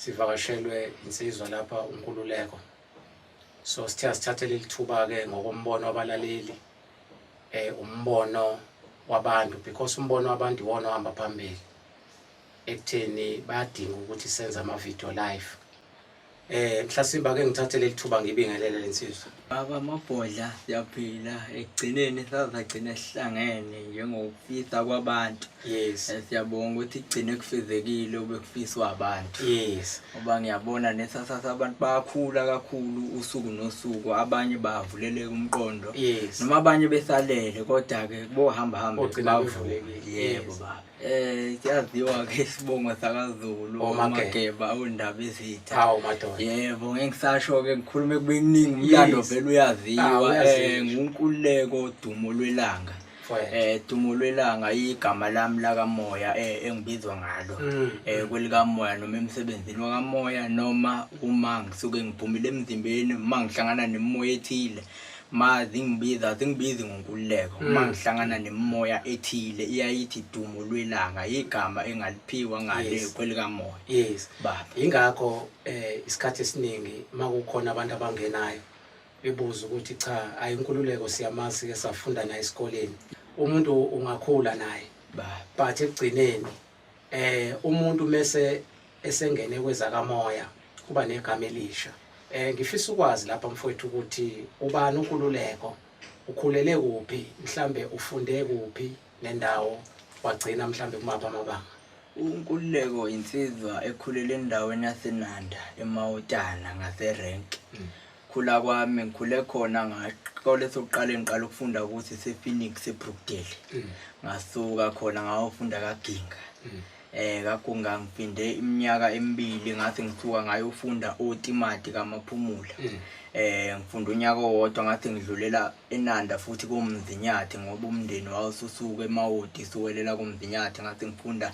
sivakashelwe insizwa lapha uNkululeko so sithe asithathe leli thuba-ke ngokombono wabalaleli eh umbono wabantu because umbono wabantu iwona ohamba phambili ekutheni bayadinga ukuthi senze ama-video live eh mhlasimba ke ngithathe leli thuba ngibingelele lensizwa Baba amabhodla siyaphila ekugcineni sazagcina sihlangene njengokufisa kwabantu yes eh, siyabonga ukuthi kugcine kufezekile obekufiswa abantu yes ngoba ngiyabona nesasasa abantu bayakhula kakhulu usuku nosuku abanye bavuleleka umqondo yes noma abanye besalele kodwa-ke bohamba hambe bavulekile yebo baba Eh siyaziwa ke isibongo sakaZulu uMageba awundaba izitha. Hawu madoda. Yebo ngeke ngisasho ke ngikhulume kube kuningi umlando vele uyaziwa ah, eh ngunkululeko dumo lwelanga. eh dumo lwelanga igama lami lakamoya eh engibizwa ngalo mm. eh kwelikamoya noma emsebenzini wakamoya noma uma ngisuke ngiphumile emzimbeni uma ngihlangana nemoya ethile ma zingibiza zingibizi ngonkululeko uma mm. ngihlangana nemimoya ethile iyayithi dumo lwelanga igama engaliphiwa ngale kwelikamoya yes baba ingakho eh isikhathi esiningi makukhona abantu abangenayo bebuza ukuthi cha ayinkululeko siyamazi ke safunda naye esikoleni umuntu ungakhula naye but ekugcineni eh umuntu mese esengene kwezakamoya kuba negama elisha eh ngifisa ukwazi lapha mfowethu ukuthi ubani uNkululeko ukhulele kuphi mhlambe ufunde kuphi nendawo wagcina mhlambe kumapha amabanga uNkululeko insizwa ekhulele endaweni yaseNanda eMawutana ngaseRank mm. Khula kwami ngikhule khona ngasikole sokuqala engiqala ukufunda ukuthi sePhoenix eBrookdale. Mm. Ngasuka khona ngayofunda kaGinga. Mm. Eh kaGinga ngiphinde iminyaka emibili ngathi ngisuka ngayofunda oTimati kaMaphumula. Mm. Eh ngifunda unyaka owodwa ngathi ngidlulela eNanda futhi koMzinyathi ngoba umndeni wawususuka eMawoti siwelela koMzinyathi ngathi ngifunda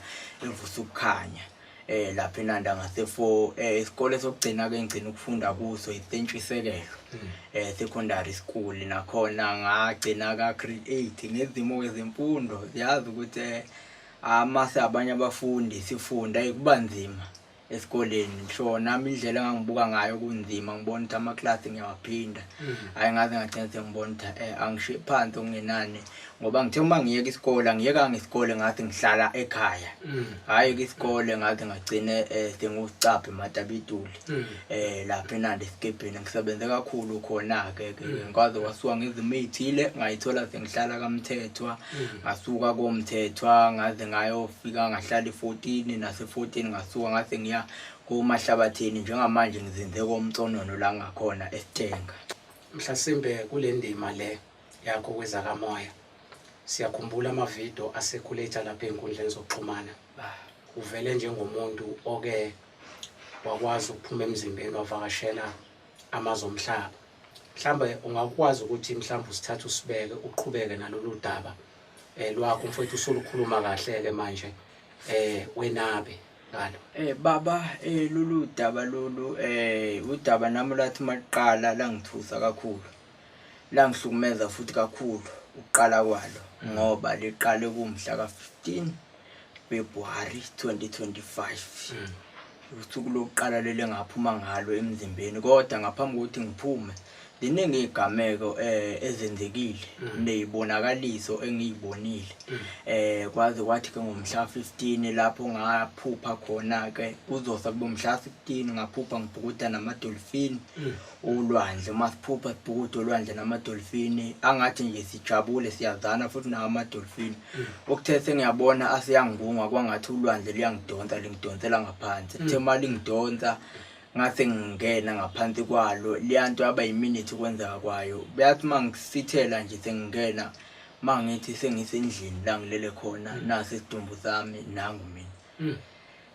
evusa ukukhanya. eh lapha eNanda ngase for eh isikole sokugcina ke ngigcina ukufunda kuso iSentshwisekelo hmm. eh secondary school nakhona ngagcina ka grade 8 ngezimo kwezemfundo siyazi ukuthi eh, amase abanye abafundi sifunda kuba nzima esikoleni so nami indlela engangibuka ngayo kunzima ngibona ukuthi ama-class ngiyawaphinda hmm. hhayi ngaze ngagcina sengibona ukuthi um angishiye phansi okungenani ngoba ngithe uma ngiyeka isikole angiyekanga isikole ngathi ngihlala ekhaya mm. hhayi ke isikole ngathi ngagcine um eh, sengucabhe matabituli um mm. eh, lapha enandi esikebheni ngisebenze kakhulu khona-ke ke mm. ngikwaze kwasuka ngizimo ey'thile ngayithola sengihlala kamthethwa ngasuka komthethwa ngaze ngayofika ngahlala i-fourteen nase-fourteen ngasuka ngase ngiya komahlabathini njengamanje ngizinze komtsonono la ngakhona esithenga mhlasimbe kule ndima le yakho kwezakamoya siyakhumbula amavidiyo asekhuletsha lapha ey'nkundleni zokuxhumana uvele njengomuntu oke wakwazi ukuphuma emzimbeni wavakashela amazwe omhlaba mhlawumbe ungakwazi ukuthi mhlawumbe usithathe usibeke uqhubeke nalolu daba um lwakho mfowethu usulukhuluma kahle-ke manje um wenabe ngalo um baba um lolu daba lolu um udaba nami lathi uma liqala langithusa kakhulu Langihlukumeza futhi kakhulu ukuqala kwalo ngoba liqale kumhla ka-15 February 2025 mm. usuku lokuqala leli ngaphuma ngalo emzimbeni kodwa ngaphambi kokuthi ngiphume ziningi iy'gameko um eh, ezenzekile mm. ney'bonakaliso engiy'bonile um mm. eh, kwaze kwathi ke ngomhla 15 lapho ngaphupha khona-ke kuzosa kubomhla 15 ngaphupha ngibhukuda namadolfini ulwandle uma siphupha sibhukude olwandle namadolfini angathi nje sijabule siyazana futhi nawo amadolfini mm. okuthe sengiyabona aseyangibunga kwangathi ulwandle luyangidonsa lingidonsela ngaphansi mm. kuthe uma lingidonsa ngase ngingena ngaphansi kwalo leya nto yaba yiminithi ukwenzeka kwayo beyathi uma ngisithela nje sengingena uma ngithi sengisendlini la ngilele khona mm. nasesidumbu sami nangu mina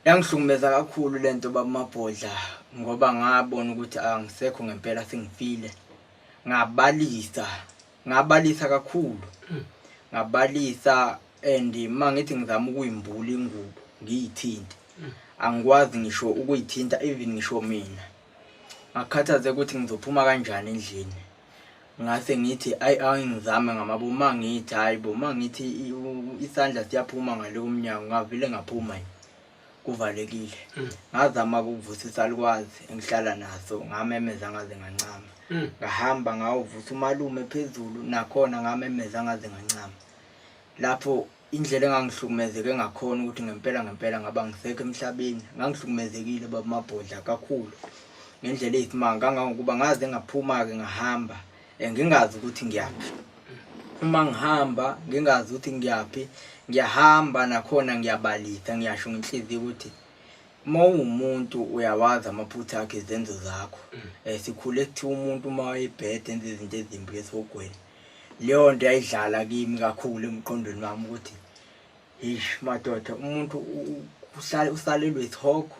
Yangihlukumeza kakhulu lento baba Mabhodla ngoba ngabona ukuthi angisekho ngempela sengifile. Ngabalisa, ngabalisa kakhulu. Hmm. Ngabalisa and mangithi ngizama ukuyimbula ingubo ngiyithinte. Hmm. Angikwazi ngisho ukuyithinta even ngisho mina. ngakhathaze ukuthi ngizophuma kanjani endlini ngase ngithi ayi angizame ngamabo uma ngithi hayi bo uma ngithi isandla siyaphuma ngale komnyango ngavele ngaphuma yini kuvalekile mm. ngazama ukuvusa isalukwazi engihlala naso ngamemeza ngaze ngancama mm. ngahamba ngawuvusa umalume phezulu nakhona ngamemeza ngaze ngancama lapho Indlela engangihlukumezeke ngakhona ukuthi ngempela ngempela ngaba ngisekho emhlabeni ngangihlukumezekile baba mabhodla kakhulu ngendlela eyisimanga kangangokuba ngaze ngaphuma-ke ngahamba um ngingazi ukuthi ngiyaphi uma ngihamba ngingazi ukuthi ngiyaphi ngiyahamba nakhona ngiyabalisa ngiyasho ngenhliziyo ukuthi uma ungumuntu uyawazi amaphutha akhe izenzo zakho um sikhule kuthiwa umuntu uma wayebhede enza izinto ezimbi esihogweni leyo nto yayidlala kimi kakhulu emqondweni wami ukuthi eish madoda umuntu uhlale usalelwe isihogo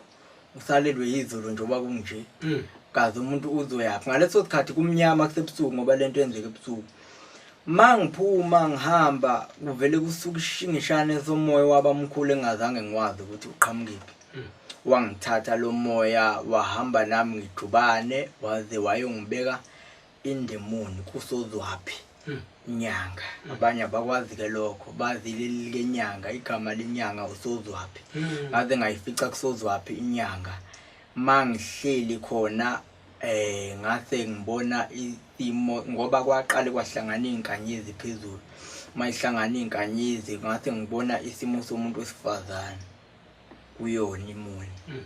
usalelwe yizulu njengoba kunje mm. kaze umuntu uzoyaphi ngaleso sikhathi kumnyama kusebusuku ngoba le nto yenzeka ebusuku ma ngiphuma ngihamba kuvele kusuke ishingishane somoya wabamkhulu engazange ngiwazi ukuthi uqhamukephi mm. wangithatha lo moya wahamba nami ngijubane waze wayongibeka indemoni kusozwaphi hmm. nyanga hmm. abanye abakwazi ke lokho bazi leli likenyanga igama lenyanga usozwaphi hmm. ngaze ngayifica kusozwaphi inyanga mangihleli khona eh ngase ngibona isimo ngoba kwaqale kwahlangana izinkanyezi phezulu mayihlangana izinkanyezi ngase ngibona isimo somuntu wesifazane kuyona imuni mm.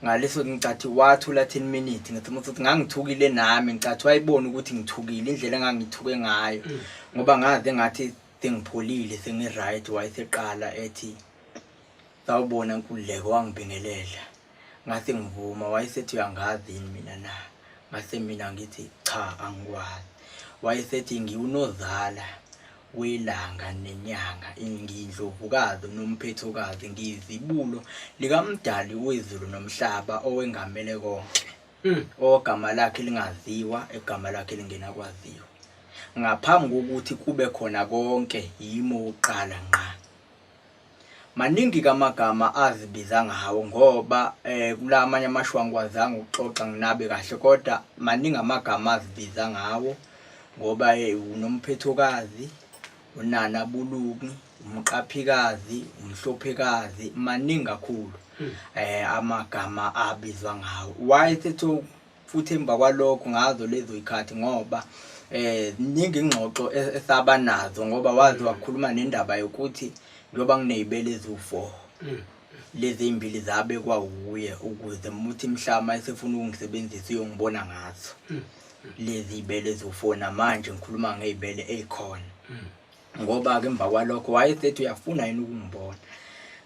ngaleso ngicathi wathula 10 minutes ngathi umuntu uthi ngangithukile nami ngicathi wayibona ukuthi ngithukile indlela engangithuke ngayo mm. ngoba ngaze ngathi sengipholile sengi right wayeseqala ethi sawubona nkululeko wangibingelela ngathi ngivuma wayesethi uyangazi yini mina na ngase mina ngithi cha angikwazi wayesethi ngiwunozala welanga nenyanga ngiyindlovukazi nomphethokazi ngiyizibulo likamdali wezulu nomhlaba owengamele konke hmm. ogama lakhe lingaziwa egama lakhe lingena kwaziwa ngaphambi kokuthi kube khona konke yimo uqala ngqa Maningi kamagama azibiza ngawo ngoba eh kula amanye amasho angikwazanga ukuxoxa nginabe kahle kodwa maningi amagama azibiza ngawo ngoba eh unomphethokazi unana buluki umqaphikazi umhlophekazi maningi kakhulu hmm. eh amagama abizwa ngawo why sethu futhi emva kwalokho ngazo lezo ikhathi ngoba eh ningi ingxoxo e-, esaba nazo ngoba wazi wakhuluma nendaba yokuthi njengoba nginezibele eziwu4 mm. lezi zimbili zabe kwawuye ukuze muthi mhlama esefuna ukungisebenzisa uyongibona ngazo mm. lezi zibele eziwu4 namanje ngikhuluma ngezibele ezikhona mm. ngoba-ke emva kwalokho wayesethi uyafuna yini ukungibona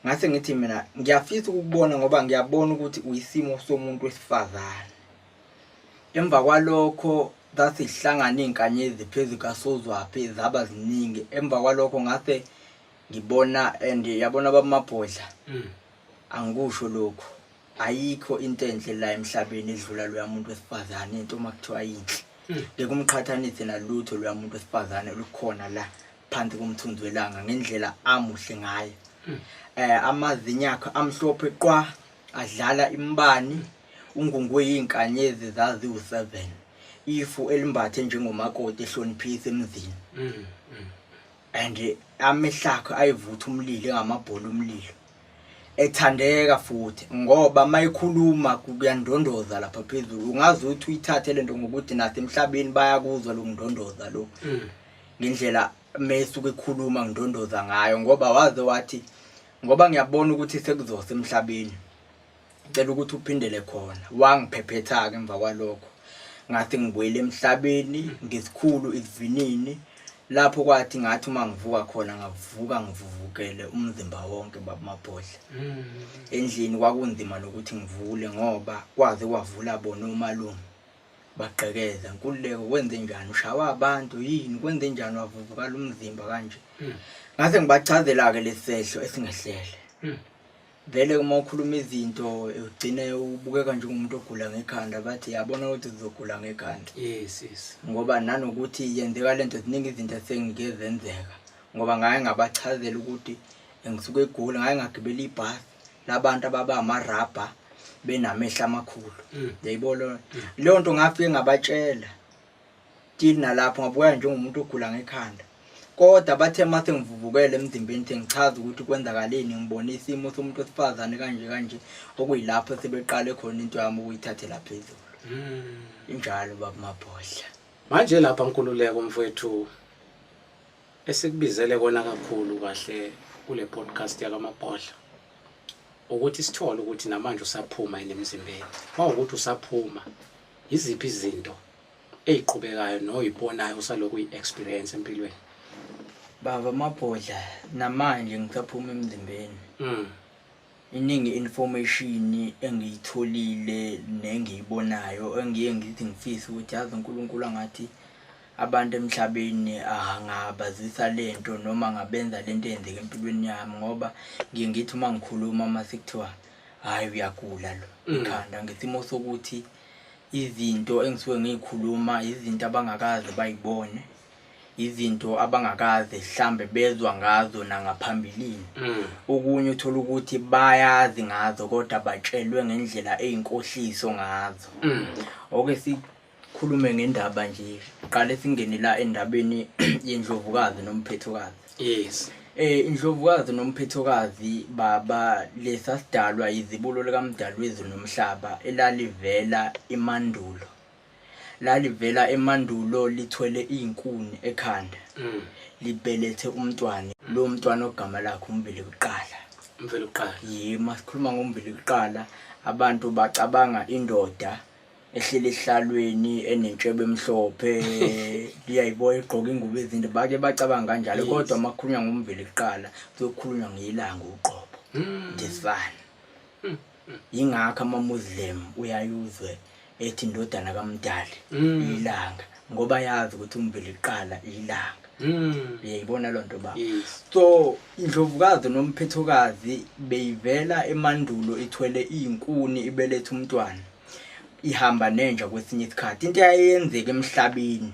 ngase ngithi mina ngiyafisa ukukubona ngoba ngiyabona ukuthi uyisimo somuntu wesifazane emva kwalokho zasihlangana iy'nkanyezi phezu kasozwaphi zaba ziningi emva kwalokho ngase ngibona and yabona babamabhodla mm. Angikusho lokhu. Ayikho into enhle la emhlabeni edlula loya muntu wesifazane into uma kuthiwa yinhle. Ngeke umqhathanise nalutho loya muntu wesifazane olukhona la phansi komthunzi welanga ngendlela amuhle ngayo. Eh amazinya akhe amhlophe qwa adlala imbani ungungwe yinkanyezi zazi u7. Ifu elimbathe njengomakoti ehloniphisa emzini. and amehlakho ayivutha umlilo engamabhola umlilo ethandeka futhi ngoba mayikhuluma kuyandondoza lapha phezulu ungazi ukuthi uyithathe lento ngokuthi nathi emhlabeni bayakuzwa lo ngidondoza lo mm. ngendlela mesuke ekhuluma ngidondoza ngayo ngoba waze wathi ngoba ngiyabona ukuthi sekuzose emhlabeni ngicela ukuthi uphindele khona wangiphephetha-ke emva kwalokho ngathi ngibuyele emhlabeni ngesikhulu isivinini lapho kwathi ngathi uma ngivuka khona ngavuka ngivuvukele umzimba wonke babamabhodla mm. endlini kwakunzima nokuthi ngivule ngoba kwaze kwavula bona umalume bagqekeza nkululeko kwenze njani ushawa abantu yini kwenze njani wavuvukala umzimba kanje mm. ngase ngibachazela-ke lesi sehlo esingehlele mm. Vele uma ukhuluma izinto ugcine ubukeka njengomuntu ogula ngekhanda bathi yabona ukuthi uzogula ngekhanda yes yes ngoba nanokuthi yenzeka lento ziningi izinto esengike zenzeka ngoba ngaye ngabachazela ukuthi ngisuke egoli ngaye ngagibela ibhasi labantu ababa amarabha benamehla amakhulu mm. yayibona mm. leyo nto ngafike ngabatshela Till nalapho ngabukeka njengomuntu ogula ngekhanda. Kodwa bathe mase ngivuvukele emzimbeni the ngichaza ukuthi kwenzakaleni ngibone isimo somuntu wesifazane kanje kanje okuyilapho sebeqale khona into yami ukuyithathela phezulu. Hmm. Injalo baba Mabhodla. Manje lapha Nkululeko mfowethu esikubizele kona kakhulu kahle kule podcast yakamabhodla ukuthi sithole ukuthi namanje usaphuma yini emzimbeni mawukuthi usaphuma yiziphi izinto eyiqhubekayo noyibonayo usalokhu uyi experience empilweni baba mabhodla namanje ngisaphuma emzimbeni mm. iningi information engiyitholile nengiyibonayo engiye ngithi ngifisa ukuthi yazi uNkulunkulu angathi abantu emhlabeni angabazisa lento noma ngabenza lento eyenzeka empilweni yami ngoba ngiye ngithi uma ngikhuluma uma sekuthiwa hayi uyagula lo mm. ikhanda ngesimo sokuthi izinto engisuke ngiyikhuluma izinto abangakaze bayibone izinto abangakaze mhlambe bezwa ngazo nangaphambilini mm. okunye uthola ukuthi bayazi ngazo kodwa batshelwe ngendlela eyinkohliso ngazo mm. oke sikhulume ngendaba nje qale singene la endabeni yendlovukazi nomphethokazi yes eh indlovukazi nomphethokazi baba lesasidalwa yizibulo likamdalwezi nomhlaba elalivela emandulo lalivela emandulo lithwele izinkuni ekhanda mm. libelethe umntwana lo mntwana ogama lakhe umbili kuqala umbili kuqala yima sikhuluma ngombili kuqala abantu bacabanga indoda ehleli esihlalweni enentshebe emhlophe liyayiboya egqoka ingubo ezinde bake bacabanga kanjalo kodwa uma kukhulunywa ngomveli kuqala kuyokhulunywa ngeyilanga uqobo hmm. the sun hmm. yingakho amamuslim uyayuzwe ethi indodana kamdali hmm. ilanga ngoba yazi ukuthi umveli kuqala ilanga Mm. uyayibona loo nto ba so indlovukazi nomphethokazi beyivela emandulo ithwele iy'nkuni ibeletha umntwana ihamba nenja kwesinye isikhathi into eyayenzeka emhlabeni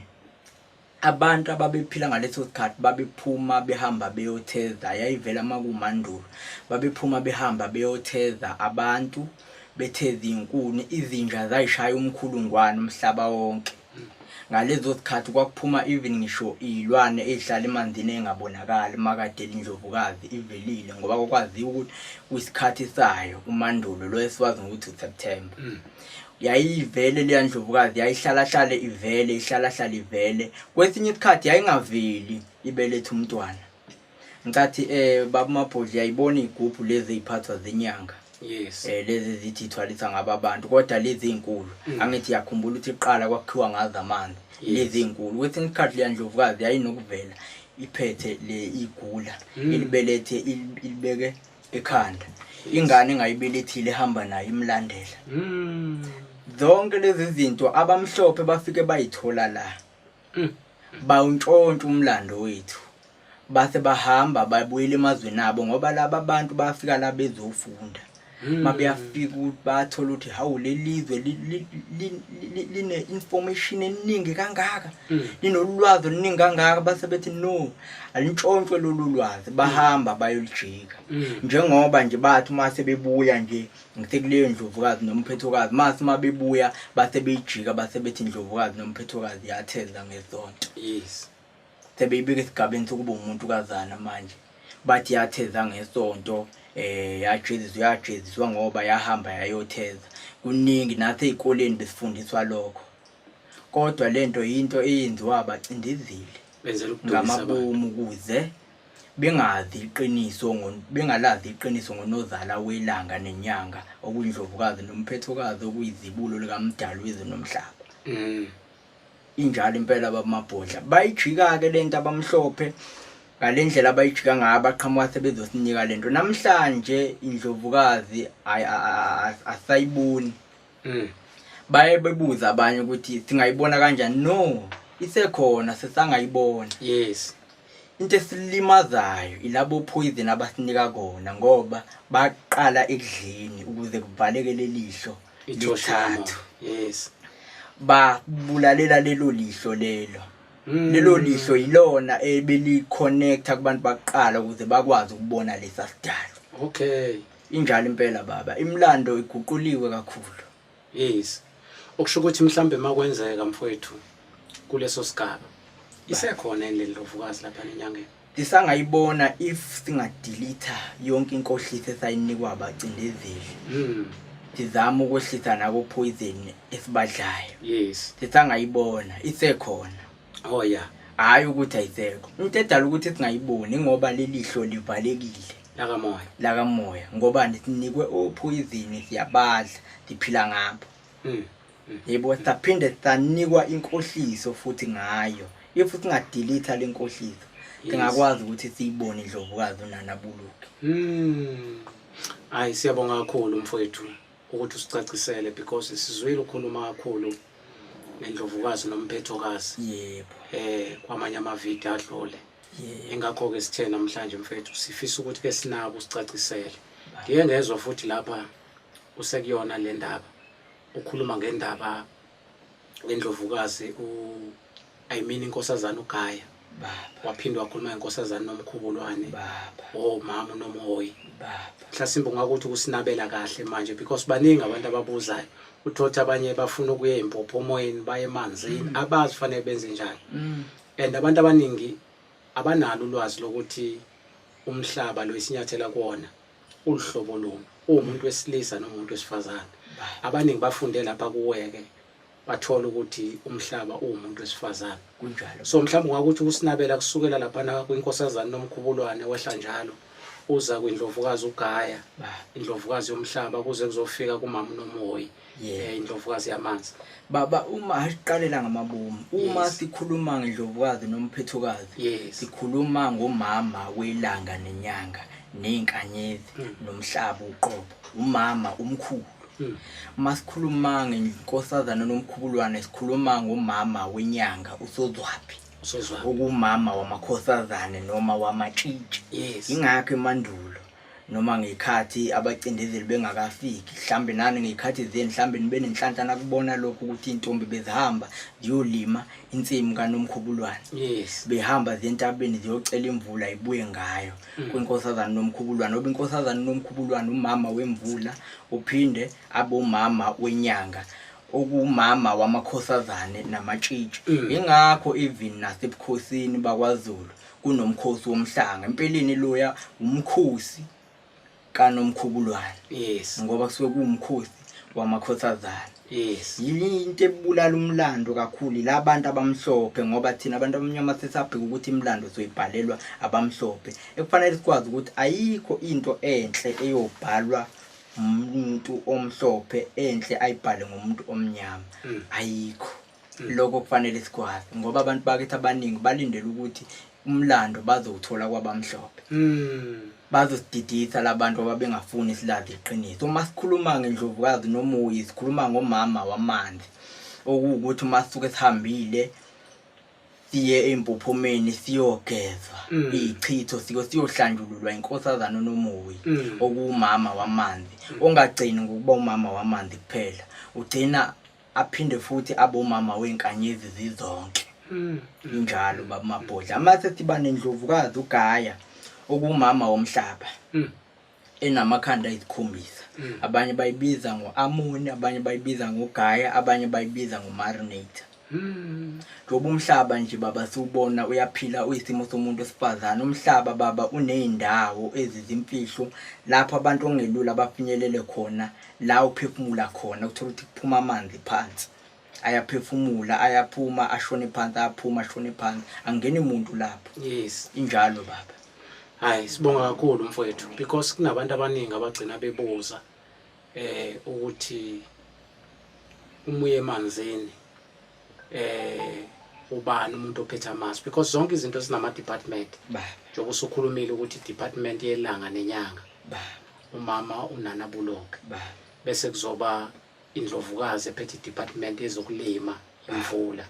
abantu ababephila ngaleso sikhathi babephuma behamba beyotheza yayivela makumandulo babephuma behamba beyotheza abantu betheza izinkuni izinja zayishaya umkhulungwane umhlaba wonke Ngalezo zikhathi kwakuphuma even ngisho iy'lwane ey'hlala emanzini ey'ngabonakali umakadeli indlovukazi ivelile ngoba kwakwaziwa ukuthi kwisikhathi sayo umandulo lo esiwazi ngokuthi useptember mm. yayivele leya ndlovukazi yayihlalahlale ivele ihlalahlale ivele kwesinye isikhathi yayingaveli ibeletha umntwana Nkathi eh baba Mabhodli yayibona igubhu lezi eziphathwa zinyanga. Yes. Eh lezi ezithi ithwalisa ngaba abantu kodwa lezi ezinkulu Mm. angithi yakhumbula ukuthi iqala kwakhiwa ngazo amanzi. Yes. Lezi ezinkulu kwesinye isikhathi leya ndlovukazi yayinokuvela iphethe le igula Mm. ilibelethe ili- ilibeke ekhanda. Ingane engayibelethile ehamba nayo imlandela. Mm. Zonke lezi zinto abamhlophe bafike bayithola la. Mm. Bawuntshontsha umlando wethu. Base bahamba babuyela emazweni abo ngoba laba bantu bafika la bezofunda. Mm. Mabeyafika ukuthi bathola ukuthi hawu lelizwe line information eningi kangaka. Mm. Linolwazi oluningi kangaka base bethi no alintshontshwe lolu lwazi bahamba bayolijika. Njengoba nje bathi uma sebebuya nje ngithe kuleyo ndlovukazi nomphethokazi mase uma bebuya base beyijika base bethi indlovukazi nomphethokazi yatheza ngesonto yes sebeyibika esigabeni sokuba umuntu kazana manje bathi yatheza ngesonto eh yajeziswa yajeziswa ngoba yahamba yayotheza kuningi nathi ezikoleni besifundiswa lokho kodwa lento into eyenziwa abacindezeli benzela ukudusa ngamabomu kuze bengazi iqiniso bengalazi iqiniso ngonozala welanga nenyanga okuyindlovukazi nomphethokazi okuyizibulo likamdali wezwe nomhlaba mm. injalo impela babamabhodla bayijika-ke le nto abamhlophe ngale ndlela abayijika ngayo abaqhamuka sebezosinika le nto namhlanje indlovukazi asayiboni Mm. Baye bebuza abanye ukuthi singayibona kanjani. No, isekhona sesangayibona. Yes. Into esilimazayo ilabo poison abasinika kona ngoba baqala ekudleni ukuze kuvaleke lelihlo lithathu. Yes. Babulalela lelo lihlo lelo. Mm. Lelo lihlo yilona ebeli connecta kubantu baqala ukuze bakwazi ukubona lesa sidalo. Okay. Injalo impela baba, imlando iguquliwe kakhulu. Yes. Okusho ukuthi mhlambe makwenzeka mfowethu kuleso sigaba. Isekhona yini lendlovukazi lapha nenyangeni? Isangayibona if singadelete yonke inkohlisi esayinikwa abacindezeli. Mhm. Sizama ukwehlisa nako poison esibadlayo. Yes. Sisangayibona isekhona. oh ya hhayi ukuthi ayisekho into edala ukuthi singayiboni ngoba lelihlo livalekile lakamoya lakamoya ngoba sinikwe ophoyizini siyabadla siphila ngabo hmm, hmm. yebo saphinde sanikwa inkohliso futhi ngayo if singadilitha le nkohliso singakwazi ukuthi siyibone indlovukazi unanabuluke hmm. hayi siyabonga kakhulu mfowethu ukuthi usicacisele because sizwile ukhuluma kakhulu nendlovukazi nomphethokazi yebo eh kwamanye amavidiyo adlule ingakho-ke sithe namhlanje mfethu sifisa ukuthi ke sinako usicacisele ndiye ngezwa futhi lapha usekuyona le ndaba ukhuluma ngendaba lendlovukazi u I mean inkosazana uGaya waphinde wakhuluma ngenkosazana nomkhubulwane oh mama unomhoyi mhlasimbe ungakuthi ukusinabela kahle manje because baningi abantu ababuzayo uthothi abanye bafuna ukuya impopho omoyeni baye emanzini mm. abazi fanele benze njani mm. and abantu abaningi abanalo ulwazi lokuthi umhlaba lo isinyathela kuwona Uhlobo luni? Uwumuntu wesilisa noma umuntu wesifazane? Abaningi bafunde lapha kuweke bathola ukuthi umhlaba uwumuntu wesifazane. Kunjalo. So mhlawumbe ungakuthi ukusinabela kusukela laphana kwinkosazane nomkhubulwane wehla njalo uza kwindlovukazi ugaya indlovukazi yomhlaba kuze kuzofika kumama unomoyi yeah indlovukazi yamanzi baba uma asiqalela ngamabomu uma yes. sikhuluma ngendlovukazi nomphethukazi yes. sikhuluma ngomama welanga nenyanga nezinkanyezi mm. nomhlaba uqobo umama umkhulu mm. masikhuluma ngenkosazana nomkhubulwane sikhuluma ngomama wenyanga usozwaphi usozwaphi okumama wamakhosazane noma wamatshitshi yes. ingakho emandulo noma ngey'khathi abacindezeli bengakafiki mhlawumbe nani ngey'khathi zenu mhlawumbe nibe nenhlanhla nakubona lokhu ukuthi iy'ntombi bezihamba ziyolima insimu kanomkhubulwane yes behamba zentabeni ziyocela imvula ibuye ngayo mm. kwinkosazane nomkhubulwane oba inkosazane nomkhubulwane umama wemvula uphinde abomama wenyanga okuwumama wamakhosazane namatshitshi mm. yingakho even nasebukhosini bakwazulu kunomkhosi womhlanga empeleni loya umkhosi kanomkhubulwane yes ngoba kusuke kuwumkhosi wamakhosazana yes yini into ebulala umlando kakhulu labantu abamhlophe ngoba thina abantu abamnyama sesabheka ukuthi imlando soyibhalelwa abamhlophe ekufanele sikwazi ukuthi ayikho into enhle eyobhalwa umuntu omhlophe enhle ayibhale ngomuntu omnyama mm. ayikho mm. lokho kufanele sikwazi ngoba abantu bakithi abaningi balindele ukuthi umlando bazowuthola kwabamhlophe mm. bazosididisa labantu ababengafuni isilazi iqiniso uma sikhuluma ngendlovukazi nomuyi sikhuluma ngomama wamanzi okuwukuthi uma sisuke sihambile siye empophomeni siyogezwa mm. ichitho siko siyohlanjululwa inkosazana nomuyi mm. okuwumama wamanzi ongagcini ngokuba umama wamanzi kuphela ugcina aphinde futhi abomama wenkanyezi zizonke mm. injalo baba mabhodla amase siba nendlovukazi ugaya okumama womhlaba mm. enamakhanda isikhombisa mm. abanye bayibiza ngo-amoni abanye bayibiza ngogaya abanye bayibiza ngomarinator njengoba umhlaba nje baba siwubona uyaphila uyisimo somuntu wesifazane umhlaba baba uney'ndawo ezizimfihlo lapho abantu okungelula bafinyelele khona la uphefumula khona uthola ukuthi kuphuma amanzi phansi ayaphefumula ayaphuma ashone phansi ayaphuma ashone phansi angeni muntu lapho yes injalo baba hayi sibonga kakhulu mfowethu because kunabantu abaningi abagcina bebuza eh ukuthi umuye emanzini eh ubani umuntu ophethe amasu because zonke izinto sinama department baba njengoba usukhulumile ukuthi department yelanga nenyanga baba umama unana buloke baba bese kuzoba indlovukazi ephethe department yezokulima imvula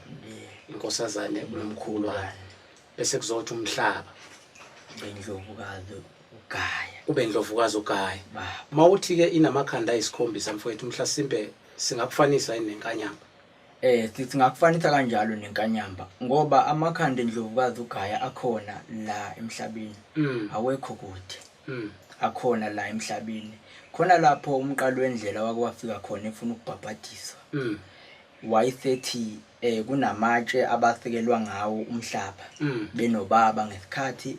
inkosazane unomkhulwane bese kuzothi umhlaba bendlovukazi ugaya ube indlovukazi ugaya baba mawuthi ke inamakhanda ayisikhombisa mfowethu mhlasimbe singakufanisa yini nenkanyamba Eh sithi ngakufanisa kanjalo nenkanyamba ngoba amakhanda endlovukazi ugaya akhona la emhlabeni. Mm. Awekho kude. Mm. Akhona la emhlabeni. Khona lapho umqalo wendlela wake wafika khona efuna ukubhabhadiswa. Mm. Wayesethi eh kunamatshe abasekelwa ngawo umhlaba. Mm. Benobaba ngesikhathi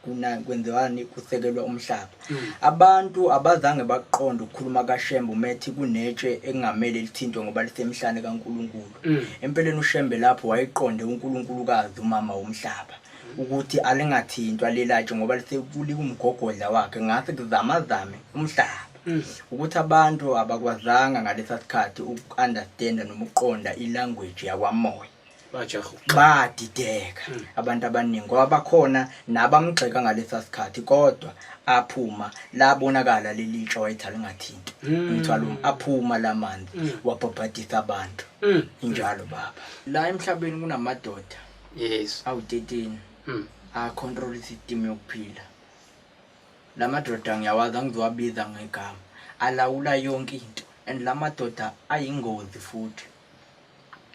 kuna kwenziwani kusekelwa umhlaba mm. abantu abazange bakuqonda ukukhuluma kaShembe umethi kunetshe ekungamele lithintwe ngoba lisemhlane kaNkuluNkulu mm. empeleni uShembe lapho wayiqonde uNkuluNkulukazi umama womhlaba mm. ukuthi alingathintwa lelatshe ngoba lisekulika umgogodla wakhe ngase kuzamazame umhlaba mm. ukuthi abantu abakwazanga ngalesa sikhathi uku-understanda noma ukuqonda ilanguage yakwamoya badideka hmm. abantu abaningi ngoba bakhona nabamgxeka ngalesa sikhathi kodwa aphuma labonakala leli tsho wayetha lingathinti hmm. umthwalo um, aphuma la manzi hmm. wabhabhadisa abantu injalo baba la emhlabeni kunamadoda yes awu-13 a-control system yokuphila la madoda ngiyawazi angizowabiza ngegama alawula yonke into and la madoda ayingozi futhi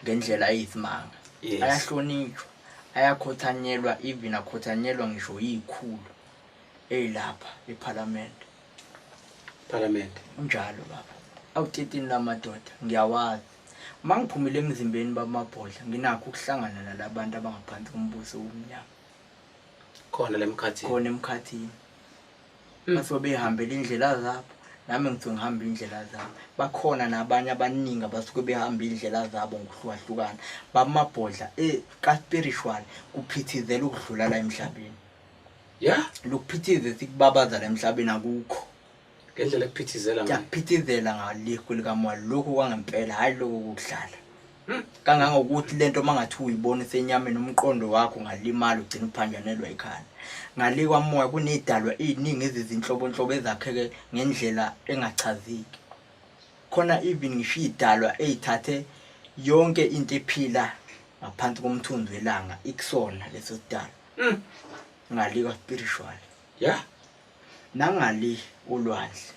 ngendlela eyisimanga Yes. ayahlonitshwa ayakhothanyelwa even akhothanyelwa ngisho yikhulu eyilapha ephalamende Parliament. unjalo baba awutetini lamadoda ngiyawazi uma ngiphumile emzimbeni bamabhodla nginakho ukuhlangana nalabantu abangaphansi kombuso womnyama Khona lemkhathi. khona emkhathini bathiwa behambela iy'ndlela zabo nami ngithiwe ngihamba iy'ndlela zabo bakhona nabanye abaningi abasuke behamba iy'ndlela zabo ngokuhlukahlukana bamabhodla e ka-spiritual kuphithizela ukudlula la emhlabeni ya lokuphithize sikubabaza la emhlabeni akukho ngendlela ekuphithizela ngayo. ngiyakuphithizela ngale kwelikamali lokhu kwangempela hhayi lokhu kudlala Hmm, kangangokuthi lento mangathi uyibona isenyameni umqondo wakho ngalimala ugcina uphanjanelwa ikhanda ngalikwa moya kunedalwa iningi ezizinhlobonhlobo ezakheke ngendlela engachazeki khona even ngisho idalwa ezithathe yonke into ephila ngaphansi komthunzi welanga ikusona leso sidalwa hmm, ngalikwa spiritual Yeah. Nangali ulwandle.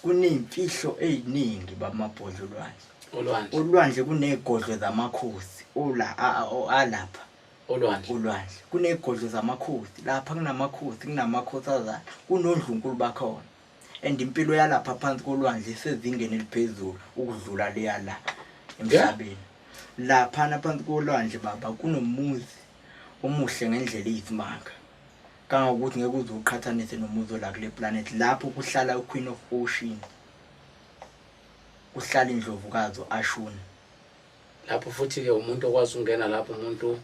Kuneyimfihlo eziningi bamabhodla ulwandle. Ulwandle. Ulwandle kunegodlo zamakhosi ola alapha. Ulwandle. Ulwandle. Kunegodlo zamakhosi. Lapha kunamakhosi, kunamakhosi azayo. Kunondlunkulu bakhona. And impilo yalapha phansi kolwandle isezingeni eliphezulu ukudlula leya la emhlabeni. Lapha naphansi kolwandle baba kunomuzi omuhle ngendlela eyisimanga. kangangokuthi ngeke uze uqhathanise nomuzi ola kule planet lapho kuhlala uqueen of ocean kuhlala indlovukazi ashuna lapho futhi-ke umuntu okwazi ukungena lapho umuntu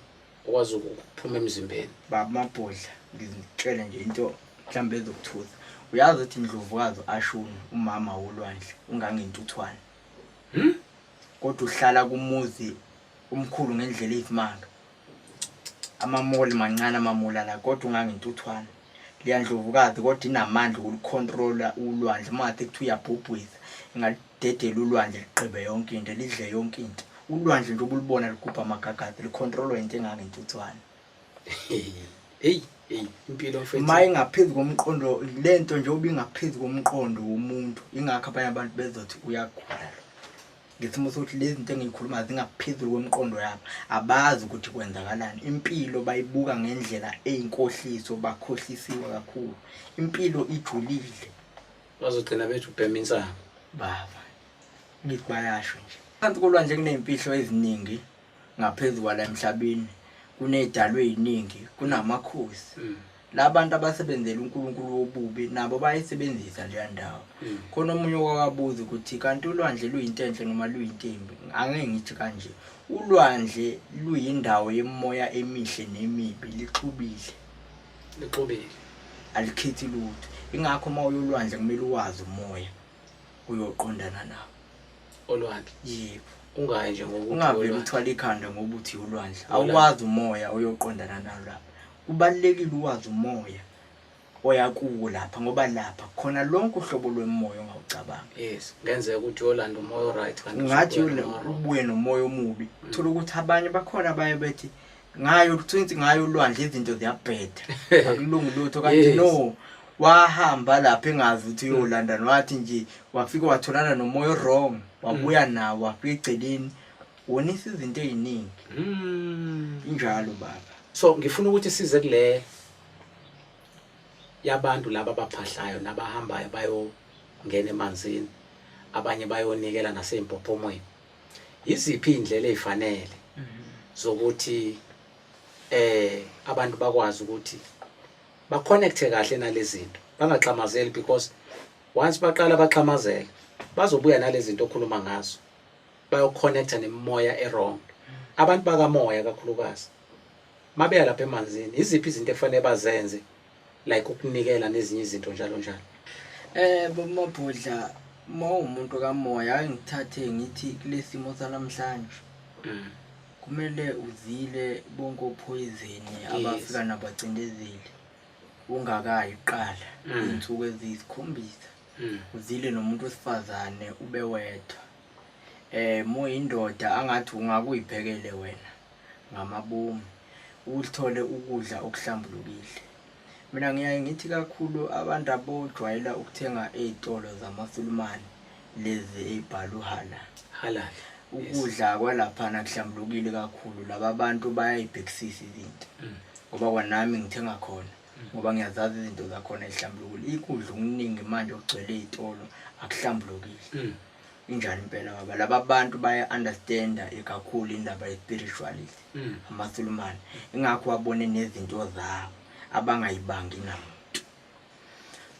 okwazi ukuphuma emzimbeni baba mabhodla ngizitshele nje into mhlawumbe ezokuthusa uyazi ukuthi indlovukazi ashuna umama wolwandle ungangentuthwane hmm? kodwa uhlala kumuzi umkhulu ngendlela eyisimanga Amamoli mancane amamoli ala kodwa ungangentuthwane. Liyandlovu kade kodwa inamandla okulicontrola ulwandle uma ngathi kuthiwa uyabhubhwitha ingalidedela ulwandle ligqibe yonke into lidle yonke into. Ulwandle nje ubulibona ligubha amagagade licontrolwa into engangentuthwane. Hey hey impilo mfethu. Uma ingaphezu komqondo lento nje obingaphezu komqondo womuntu ingakho abanye abantu bezothi uyagula. ngesimo sokuthi lezi zinto engiyikhuluma zingaphezulu kwemiqondo yabo abazi ukuthi kwenzakalani impilo bayibuka ngendlela eyinkohliso bakhohlisiwe kakhulu impilo ijulile bazogcina bethu ubhema insango baba ngithi bayasho nje phansi kolwandle kuney'mfihlo eziningi ngaphezu kwala emhlabeni kuney'dalwe ey'ningi kunamakhosi mm. labantu abasebenzela uNkulunkulu wobubi nabo bayisebenzisa leya ndawo mm. khona omunye wakabuza ukuthi kanti ulwandle luyinto enhle noma luyintembi angeke ngithi kanje ulwandle luyindawo yemoya emihle nemibi lixubile lixubile alikhethi lutho ingakho uma uyolwandle kumele uwazi umoya uyoqondana nawo olwandle yebo ungayi nje ngokuthi ungavele uthwala ikhanda ngokuthi ulwandle awukwazi umoya oyoqondana nalo lapho Kubalulekile uwazi umoya oya kuwo lapha ngoba lapha khona lonke uhlobo lwemoya ongawucabanga yes ngenzeka ukuthi uyolanda umoya oright kanti ngathi ubuye nomoya omubi mm. thola ukuthi abanye bakhona abaye bethi ngayo ukuthi ngayo ulwandle izinto ziyabheda akulungi lutho kanti no wahamba lapha engazi ukuthi uyolanda nwathi nje wafika watholana nomoya wrong wabuya mm. nawo wafika egceleni Wonisa izinto eziningi. Mm. Injalo baba. So ngifuna ukuthi size kule yabantu laba abaphahlayo nabahambayo bayongena emanzini abanye bayonikela naseyimpophomweni yiziphi indlela ezifanele mhm. zokuthi eh abantu bakwazi ukuthi ba connecte kahle nalezinto bangaxhamazeli because once baqala baxhamazela bazobuya nalezinto okhuluma ngazo bayoconnecta nemimoya erong abantu bakamoya kakhulukazi mabeya lapha emanzini iziphi izinto efanele bazenze like ukunikela nezinye izinto njalo njalo eh bomabhodla mawumuntu kamoya angithathe ngithi kulesimo sanamhlanje mm. kumele uzile bonke ophoyizeni abafika nabacindezeli ungakayi qala mm. insuku ezisikhombisa mm. uzile nomuntu wesifazane ube wedwa Em uyindoda angathi ungake uyiphekele wena ngamabomu uthole ukudla okuhlambulukile. Mina ngiyaye ngithi kakhulu abantu abojwayela ukuthenga ezitolo zamaSulumane lezi ezibhalwe uhala. Halal. Ukudla kwalapha nakuhlambulukile kakhulu laba abantu bayayibhekisisa izinto. Mm. Ngoba kwanami ngithenga khona mm. ngoba ngiyazazi izinto zakhona ezihlambulukile. Ikudla okuningi manje okugcwele ezitolo akuhlambulukile. Mm. Injani impela ngoba laba bantu baya understanda ikakhulu indaba ye spirituality mm. amasulumane ingakho wabone nezinto zabo abangayibangi namuntu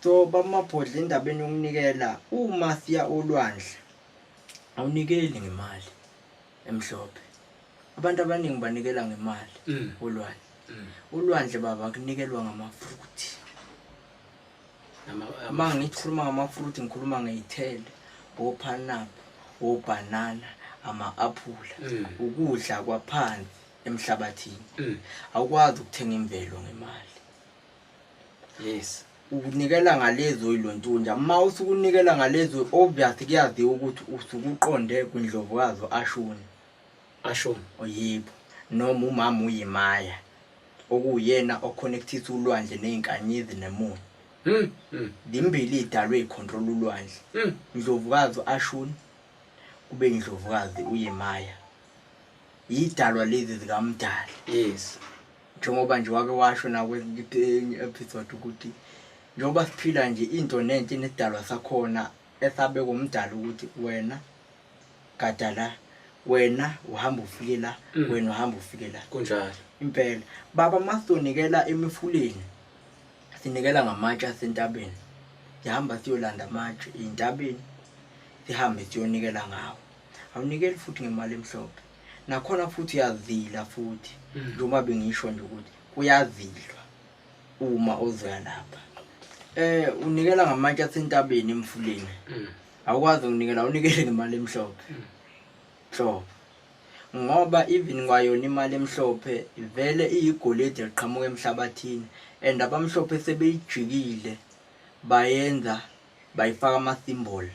so bamabhodla endabeni yokunikela uma siya olwandle awunikeli ngemali emhlophe abantu abaningi banikela ngemali mm. olwandle mm. olwandle baba kunikelwa ngamafuthi uma ngithi khuluma ngamafruit ngikhuluma ngeyithelo ophanapu obhanana ama-aphula mm. ukudla kwaphansi emhlabathini mm. awukwazi ukuthenga imvelo ngemali yes ukunikela ngalezo oyilontunja uma usukunikela ngalezo obvious kuyaziwa ukuthi usukuqonde kwindlovukazi ashuni Ashon oyebo noma umama uyi Maya okuwuyena o connectisa ulwandle nezinkanyezi nemoya. Zimbili izidalwa ezi control ulwandle. Ndlovukazi u Ashun kube indlovukazi uyi Maya. Izidalwa lezi zika Mdali. Yes. Njengoba nje wake washo nakwe enye episode ukuthi njengoba siphila nje into nenhle inesidalwa sakhona esabekwa uMdali ukuthi wena gada la wena uhamba ufike la Mm. wena uhamba ufike la kunjalo impela baba uma sizonikela emifuleni sinikela ngamatshe asentabeni sihamba siyolanda amatshe ey'ntabeni sihambe siyonikela ngawo awunikeli futhi ngemali emhlophe nakhona futhi uyazila futhi Mm. njengoba bengisho nje ukuthi kuyazilwa uma ozoya lapha um unikela ngamatshe asentabeni emfuleni Mm. awukwazi ukunikela unikele ngemali emhlophe nhlobo ngoba even kwayona imali emhlophe vele iyigolide liqhamuka emhlabathini and abamhlophe sebeyijikile bayenza bayifaka ama-symbol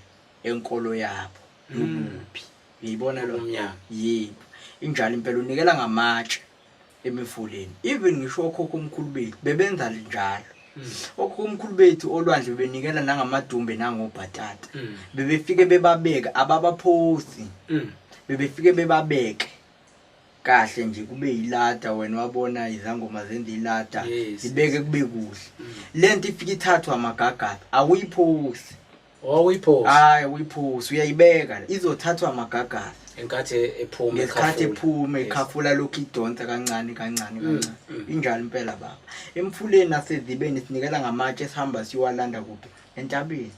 enkolo yabo yokuphi ngiyibona lo mnyama yebo injalo impela unikela ngamatshe emifuleni even ngisho okhokho omkhulu bethu bebenza linjalo mm. okhokho omkhulu bethu olwandle bebenikela nangamadumbe nangobhatata mm. bebefike bebabeke ababaphosi mm. bebefike bebabeke kahle nje kube yilada wena wabona izangoma zenza ilada zibeke kube kuhle lento ifike ithathwa amagagada awuyiphosi Oh uyiphosi. Hayi uyiphosi uyayibeka izothathwa amagagasi. Enkathi ephuma ngesikhathi ephuma ekhafula lokhu idonsa kancane kancane mm, kancane. Mm. Injalo impela baba. Emfuleni nasezibeni sinikela ngamatshe sihamba siwalanda kuphi entabeni.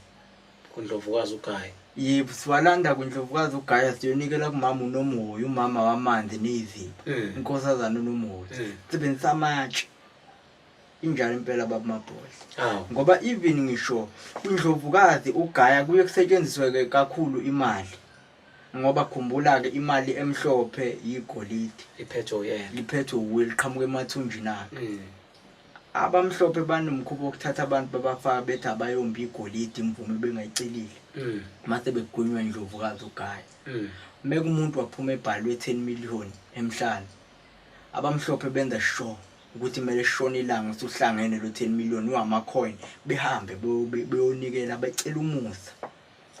Kundlovukazi ugayi. Yebo siwalanda kundlovukazi ugaya siyonikela kumama unomhoyi umama wamanzi nezimba. Mm. Inkosazana unomhoyi. Sebenzisa amatshe. injalo impela baba mabhozi ngoba even ngisho indlovukazi ugaya kuye kusetshenzisweke kakhulu imali ngoba khumbula ke imali emhlophe yigolide iphethwe uyena iphethwe uwe liqhamuka emathunjini akhe mm. abamhlophe banomkhuba wokuthatha abantu babafaka bethi abayombi igolide imvume bengayicelile mm. mase begunywa indlovukazi ugaya mm. mekumuntu waphuma ebhalwe 10 million emhlanje Abamhlophe benza sure ukuthi kumele shone ilanga usuhlangene lo 10 million wama coin behambe beyonikela becela umusa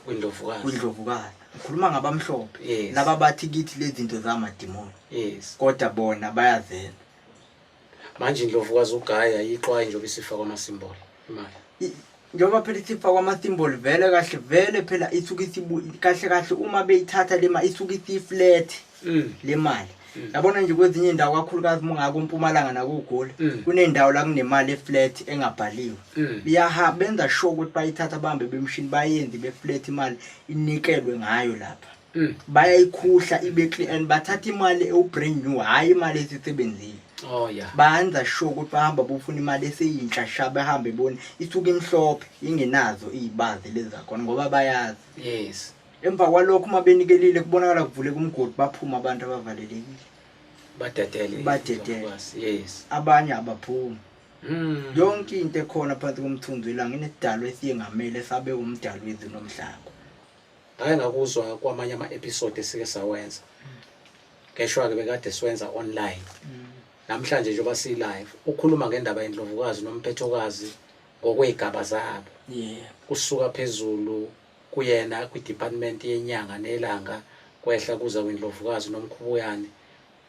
kwindlovukazi kwindlovukazi ngikhuluma ngabamhlophe yes. laba bathi kithi lezi zinto zamadimoni yes. kodwa bona bayazela manje indlovukazi ugaya yixwaye njengoba isifa kwamasimbolo njengoba phela isifa kwama-symbol vele kahle vele phela isuke kahle kahle uma beyithatha le mali isuke isiyiflat mm. le mali mm. yabona nje kwezinye indawo kakhulukazi uma ungako mpumalanga nakogoli mm. kunendawo la kunemali eflat engabhaliwe biyaha benza sure ukuthi bayithatha bambe bemshini bayenzi beflat imali inikelwe ngayo lapha Mm. bayayikhuhla ibe clean and bathatha imali ewu-brand new hhayi imali esisebenzile oh yeah bayenza sure ukuthi bahamba bofuna imali eseyintsha sha behambe bone isuke imhlophe ingenazo iy'bazi lezi zakhona ngoba bayazi yes emva kwalokho uma benikelile kubonakala kuvuleka umgodi baphuma abantu abavalelekile badedele Badedele. Yes, yes abanye abaphumi Mm. yonke into ekhona phansi komthunzi welanga inesidalwa esiyengamele sabe umdali wezulu nomhlaba Ngake ngakuzwa kwamanye ama episode esike sawenza. Ngeshwa ke bekade siwenza online. Namhlanje njengoba si live ukhuluma ngendaba yendlovukazi nomphethokazi ngokwezigaba zabo. Yeah. Kusuka phezulu kuyena kwi department yenyanga nelanga kwehla kuza kwindlovukazi nomkhubuyane.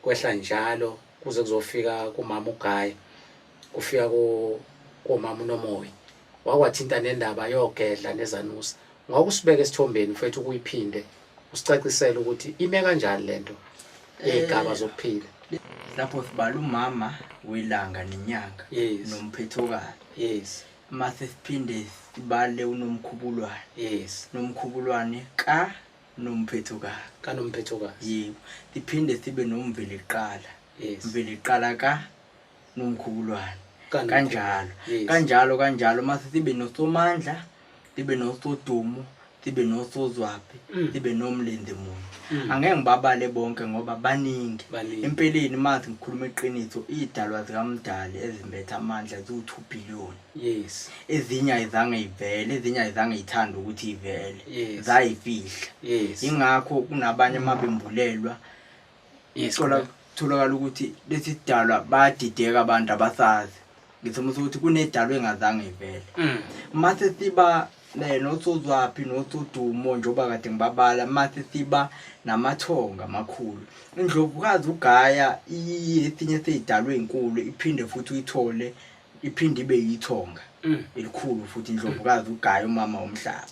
kwehla njalo kuze kuzofika kumama ugayi kufika komama unomoya wakwathinta nendaba yogedla nezanusa ngokusibeka esithombeni mfethu ukuyiphinde usicacisele ukuthi ime kanjani lento igaba eh, zokuphila lapho sibala umama welanga nenyanga nomphethokalo yes mase siphinde sibale unomkhubulwane yes nomkhubulwane ka nomphethokazi kanomphethokazi yebo siphinde sibe nomveliqala yes mveliqala ka nomkhubulwane Kano- kanjalo Yes. kanjalo kanjalo mase sibe nosomandla sibe nosodumo sibe nosozwaphi Mm. sibe nomlenze munye Mm. angeke ngibabale bonke ngoba baningi Baningi. empeleni mase ngikhuluma iqiniso iy'dalwa zikamdali ezimbethe amandla ziwu-two billion yes ezinye ayizange ivele ezinye ayizange ithanda ukuthi ivele Yes. zayifihla yes ingakho kunabanye mabembulelwa yes thola correct. kutholakala ukuthi lesi sidalwa badideka abantu abasazi ngisimo sokuthi kunedalo engazange ivele Mm. mase siba eh, nosozwaphi nosodumo njengoba kade ngibabala mase siba namathonga amakhulu indlovukazi ugaya iye esinye seyidalwe inkulu iphinde futhi uyithole iphinde ibe yithonga mm. elikhulu futhi indlovukazi ugaya umama womhlaba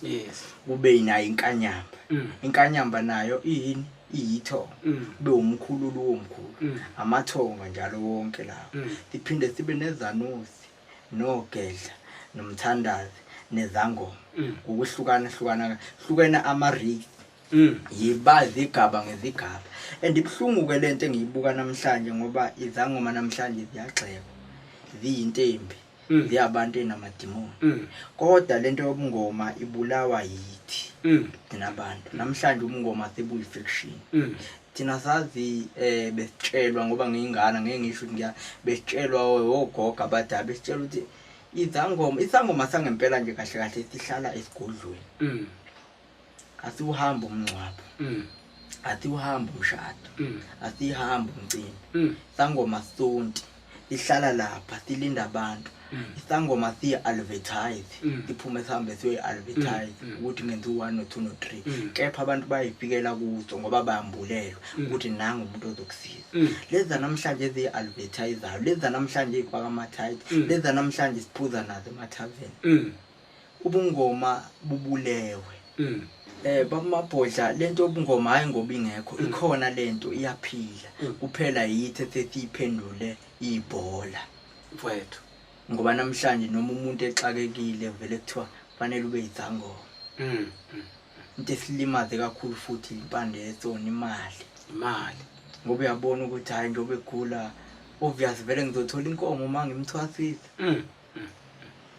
kube nayo inkanyamba mm. inkanyamba nayo iyini iyithonga mm. kube umkhululu womkhulu amathonga njalo wonke lawo siphinde sibe nezanusi nogedla nomthandazi nezangoma ngokuhlukana hlukana hlukene ama-race Mm. yiba zigaba ngezigaba and ibuhlungu-ke le nto engiyibuka namhlanje ngoba izangoma namhlanje ziyagxekwa ziyinto embi Mm. ziyabantu enamadimoni Mm. kodwa le nto yobungoma ibulawa yithi Mm. thina bantu namhlanje ubungoma sebuyi-fiction Mm. thina sazi um besitshelwa ngoba ngiyingana ngeke ngisho ukuthi ngiya besitshelwa wogoga abadala besitshelwa ukuthi izangoma isangoma sangempela nje kahle kahle sihlala esigodlweni Mm. athi uhamba umngcwabo mm. athi uhamba umshado mm. athi ihamba umcimbi mm. sangoma sonti ihlala lapha silinda abantu mm. isangoma siya advertise mm. iphume sihambe siyoyi advertise mm. mm. ukuthi ngenza u-one no two no three mm. kepha abantu bayifikela kuzo ngoba bayambulelwa mm. ukuthi mm. nangu umuntu ozokusiza mm. lezi zanamhlanje eziyi-advertisayo lezi zanamhlanje eyifaka ama-tight mm. lezi zanamhlanje siphuza nazo emathaveni mm. ubungoma bubulewe mm. eh bamabhodla lento yobungoma hayi ngoba ingekho mm. ikhona lento iyaphila mm. kuphela yithe thethi iphendule ibhola mfowethu ngoba namhlanje noma umuntu exakekile vele kuthiwa fanele ube yithangoma mm. mm. into esilimaze kakhulu futhi impande yetsona imali imali ngoba uyabona ukuthi hhayi njengoba egula obvious vele ngizothola inkomo uma ngimthwasisa mm.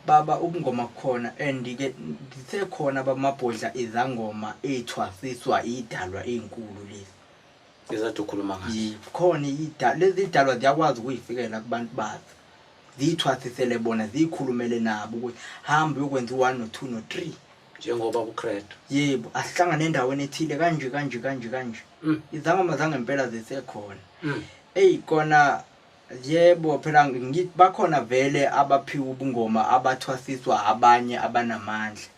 baba ubungoma khona and ke zisekhona abamabhodla izangoma eyithwasiswa idalwa ezinkulu lezi ezathi ukhuluma ngazo khona idalwa lezi idalwa ziyakwazi ukuyifikela kubantu bazo ziyithwasisele bona ziyikhulumele nabo ukuthi hamba uyokwenza u-1 no-2 no-3 njengoba kucredo yebo asihlangane endaweni ethile kanje kanje kanje kanje mm. izangoma zangempela zisekhona mm. eyi kona Yebo phela ngithi bakhona vele abaphiwa ubungoma abathwasiswa abanye abanamandla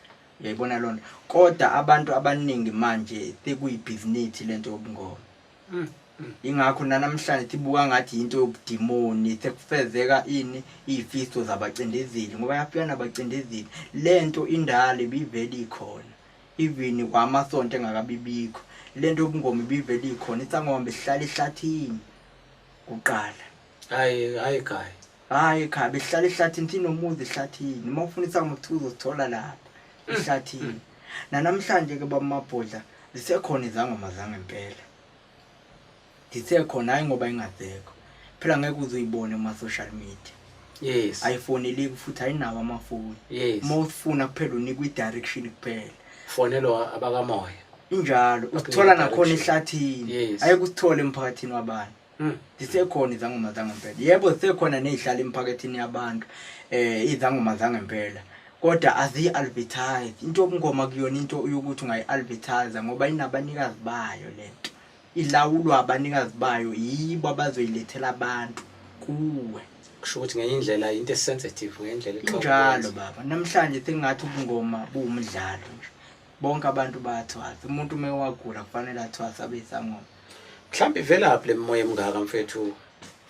uyayibona lona kodwa abantu abaningi manje sekuyibhizinisi lento yobungoma mm, mm. ingakho nanamhlanje sibuka ngathi yinto yobudimoni sekufezeka ini izifiso zabacindezeli ngoba yafika nabacindezeli lento indala ibivele ikhona even kwamasonto engakabibikho lento yobungoma ibivele ikhona isangoma besihlala ehlathini kuqala hayi hayi ekhaya hayi ekhaya behlala ehlathini thina umuzi ehlathini uma ufuna isangoma kuthiwa uzosithola lapha mm, ehlathini mm. nanamhlanje ke bamabhodla zisekhona izangoma zangempela zisekhona hayi ngoba ingazekho phela ngeke uzuyibone kuma-social media yes ayifoneleki futhi ayinawo amafoni yes uma ufuna kuphela unikwa i-direction kuphela fonelwa abakamoya injalo usithola nakhona ehlathini yes. ayekusithola emphakathini wabantu hmm. zisekhona izangoma zangempela yebo zisekhona nezihlala emphakathini yabantu eh izangoma zangempela kodwa aziyi-advertise into yobungoma kuyona into yokuthi ungayi-advertise ngoba inabanikazi bayo le nto Ilawulwa abanikazi bayo yibo abazoyilethela abantu kuwe. Kusho ukuthi ngenye indlela into esensitive ngenye indlela exoxa. Njalo baba namhlanje sengathi ubungoma buwumdlalo nje. Bonke abantu bayathwasa. Umuntu uma ewagula kufanele athwasa abe isangoma. Mhlawumbe ivelaphi lemoya emngaka mfethu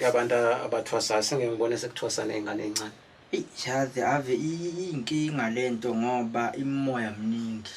yabantu abathwasayo sengeke ngibone sekuthwasa nezingane ezincane. Ijazi ave iyinkinga lento ngoba imimoya mningi.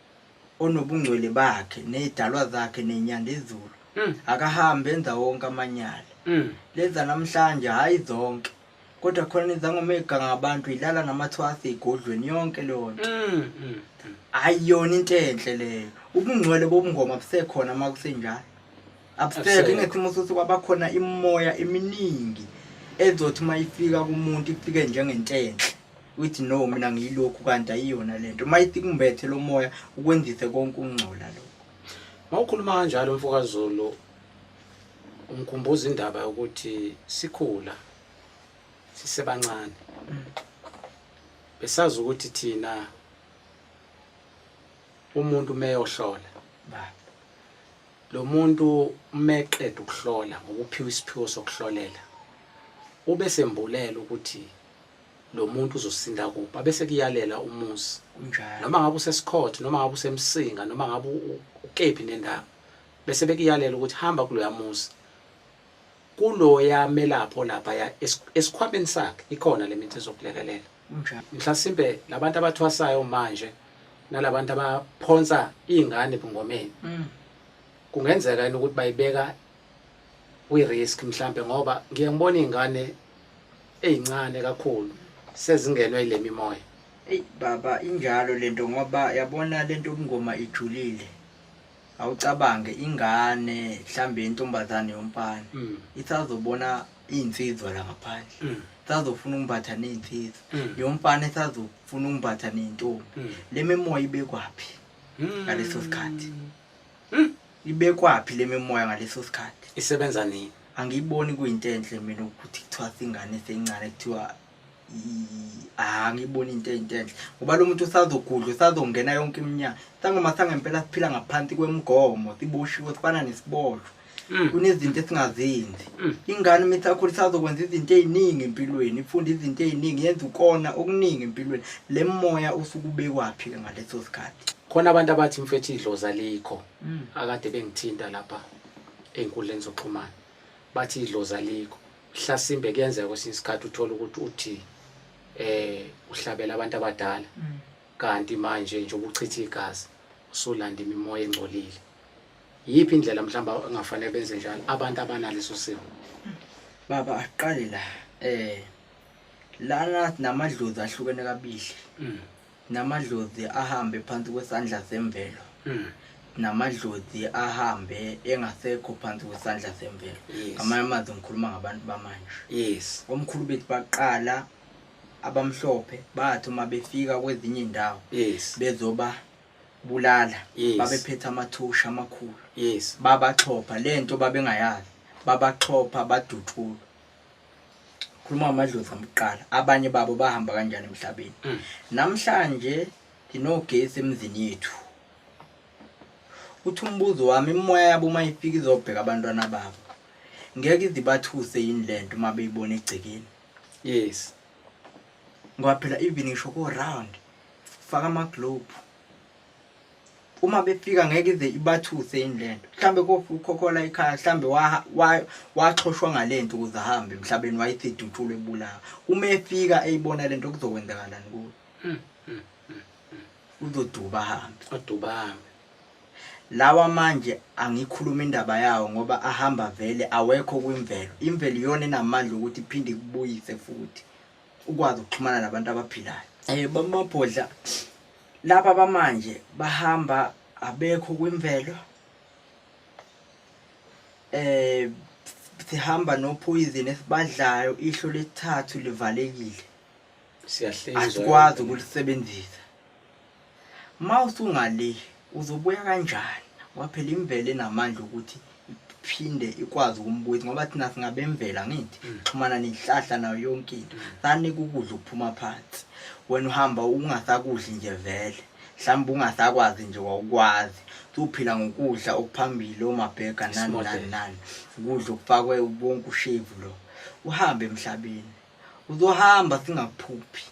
onobungcwele bakhe nezidalwa zakhe nenyanda ezulu mm. akahambe enza wonke amanyala mm. leza namhlanje hhayi zonke kodwa khona izangomega ngabantu ilala namathwasi egodlweni yonke leyo nto mm, mm, mm. ayiyona into enhle leyo ubungcwele bobungoma busekhona uma kusenjalo abusekho ingesimo sothi kwabakhona imimoya eminingi ezothi uma ifika kumuntu ifike njengentenhle Uthi no mina ngiyilokhu kanti ayiyona lento. Mayiti kumbethe lo moya ukwenzise konke ukungcola lokho. Mawukhuluma kanjalo mfokaZulu ungikhumbuza indaba yokuthi sikhula sisebancane. Mm. Besazi ukuthi thina umuntu meyohlola baba lo muntu meqeda ukuhlola ngokuphiwa isiphiwo sokuhlolela ube sembulela ukuthi lo muntu uzosinda kuphi abese kuyalela umuzi Kunjalo. noma ngabe usesikhotho noma ngabe usemsinga noma ngabe u- u- ukephi nendawo bese bekuyalela ukuthi hamba kuloya muzi kuloya melapho lapha ya es- esikhwameni sakhe ikhona le mithi ezokulekelela Kunjalo. mhlasimbe labantu abathwasayo manje nalabantu abaphonsa iy'ngane ebungomeni Mm. kungenzeka yini ukuthi bayibeka kwi risk mhlambe ngoba ngiye ngibona izingane ezincane kakhulu sezingenwe ilemimoya Ey baba injalo lento ngoba yabona lento ubungoma ijulile awucabange ingane mhlambe intombazane yomfana mm. isazobona iy'nsizwa la ngaphandle mm. isazofuna ukumbatha ney'nsizwa mm. yomfana isazofuna ukumbatha ney'ntombi le mimoya ibekwaphi ngaleso sikhathi Ibekwaphi le mimoya ngaleso sikhathi? Isebenza nini? Angiyiboni kuyinto enhle mina ukuthi kuthiwa singane sencane kuthiwa i- ah, angiyiboni into eyinto enhle ngoba lo muntu usazogudla usazongena yonke iminyaka sangoma sangempela siphila ngaphansi kwemigomo siboshiwe sifana nesiboshwa Mm. kunezinto esingazenzi Mm. ingane uma isakhula isazokwenza izinto ey'ningi empilweni ifunda izinto ey'ningi yenza ukona okuningi empilweni le moya usuke ubekwaphi-ke ngaleso sikhathi khona abantu abathi mfethu idlozi alikho mm. akade bengithinta lapha ey'nkundleni zokuxhumana bathi idlozi alikho hlasimbe kuyenzeka kwesinye isikhathi uthole ukuthi uthi eh uhlabela abantu abadala mm. kanti manje nje ubuchitha igazi usulanda imimoya engcolile yiphi indlela mhlawumbe engafanele benze njalo abantu abanaleso simo mm. baba aqale la eh lana namadlozi ahlukene kabili Namadlozi ahambe phansi kwesandla semvelo. Mm. Namadlozi ahambe engasekho phansi kwesandla semvelo. Yes. Ngamanye amazwi ngikhuluma ngabantu bamanje. Yes. Omkhulu bethu baqala abamhlophe bathi uma befika kwezinye indawo. Yes. Bezoba bulala. Yes. Babephethe amathusha amakhulu. Yes. Babaxhopha lento babengayazi. Babaxhopha badutshulwa. khuluma amadlozi amqala abanye babo bahamba kanjani emhlabeni mm. namhlanje nginogesi emzini yethu uthi umbuzo wami imoya yabo uma ifika izobheka abantwana babo ngeke izibathuse yini le nto uma beyibona egcekeni yes ngoba phela even ngisho ko-round faka amaglobe uma befika ngeke ize ibathuse yini lento mhlambe kofu ukhokhola ikhaya mhlambe waxhoshwa ngalento ukuze ahambe emhlabeni wayithiduthule ebulawa uma efika eyibona lento kuzokwenzakalani kuyo hmm, hmm, hmm, uzoduba ahambe oduba ahambe lawa manje angikhuluma indaba yawo ngoba ahamba vele awekho kwimvelo imvelo iyona enamandla ukuthi iphinde ikubuyise futhi ukwazi ukuxhumana nabantu abaphilayo um bamabhodla Laba bamanje bahamba abekho kwimvelo eh sihamba nophoyizini esibadlayo ihlo lesithathu livalekile siyahlinzwa asikwazi ukulisebenzisa mawusungale uzobuya kanjani waphela imvele namandla ukuthi iphinde ikwazi ukumbuyisa ngoba thina singabemvela ngithi mm. xhumana nenhlahla nayo yonke into mm. sani kukudla ukuphuma phansi wena uhamba ungasakudli nje vele mhlawumbe ungasakwazi nje wawukwazi suphila ngokudla okuphambili omabhega nani nani nani ukudla okufakwe ubonke ushevu lo uhambe emhlabeni uzohamba singaphuphi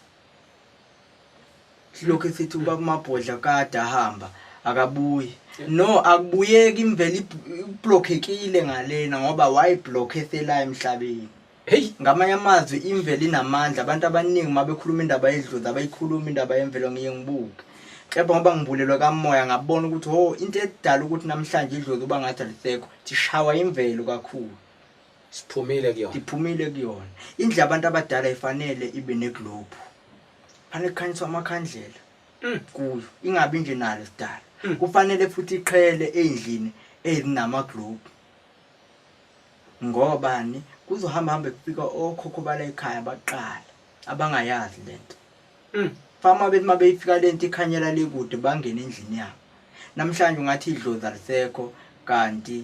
silokhu esithi uba kumabhodla kade ahamba akabuyi no akubuyeki imvela iblokhekile ngalena ngoba wayiblokhe esela emhlabeni heyi ngamanye amazwi imvela inamandla abantu abaningi uma bekhuluma indaba yedlozi abayikhuluma indaba yemvelo ngiye ngibuke kepha ngoba ngibulelwe kamoya ngabona ukuthi ho into edala ukuthi namhlanje idlozi uba ngathi alisekho sishawa imvelo kakhulu Siphumile kuyona. Ngiphumile kuyona. Indlu yabantu abadala ifanele ibe neglobe. Fanele kukhanyiswa amakhandlela Mm. kuyo. Ingabi nje nalo sidala. Mm. Kufanele futhi iqhele endlini ezinama globe. Ngoba ni kuzohamba hamba kufika okhokho bala ekhaya baqala abangayazi lento. Mm. Fama bethi uma beyifika lento ikhanyela le kude bangene endlini yabo. Namhlanje ungathi idlozi alisekho kanti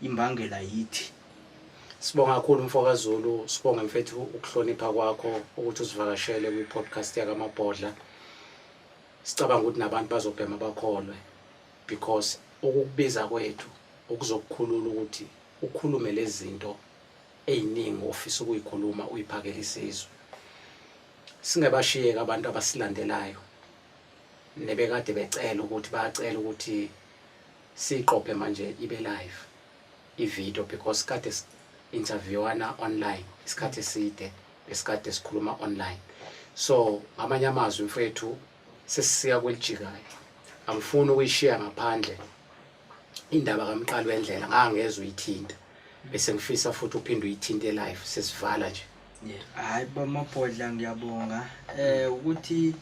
imbangela yithi sibonga kakhulu mfokazulu sibonga mfethu ukuhlonipha kwakho ukuthi usivakashele kwi-podcast yakamabhodla sicabanga ukuthi nabantu bazobhema bakholwe because ukukubiza kwethu ukuzokukhulula ukuthi ukhulume lezi zinto ey'ningi ofisa ukuyikhuluma uyiphakele isizwe singabashiyeki abantu abasilandelayo nebekade becela ukuthi bacela ukuthi Siyiqophe manje ibe live ivideo because kade interviewana online isikhathi eside besikade sikhuluma online so ngamanye amazwi mfethu sesisiya kwelijikayo angifuni ukuyishiya ngaphandle indaba kamqali wendlela ngangezwe uyithinta bese ngifisa futhi uphinde uyithinte live sesivala nje hayi bamabhodla ngiyabonga eh ukuthi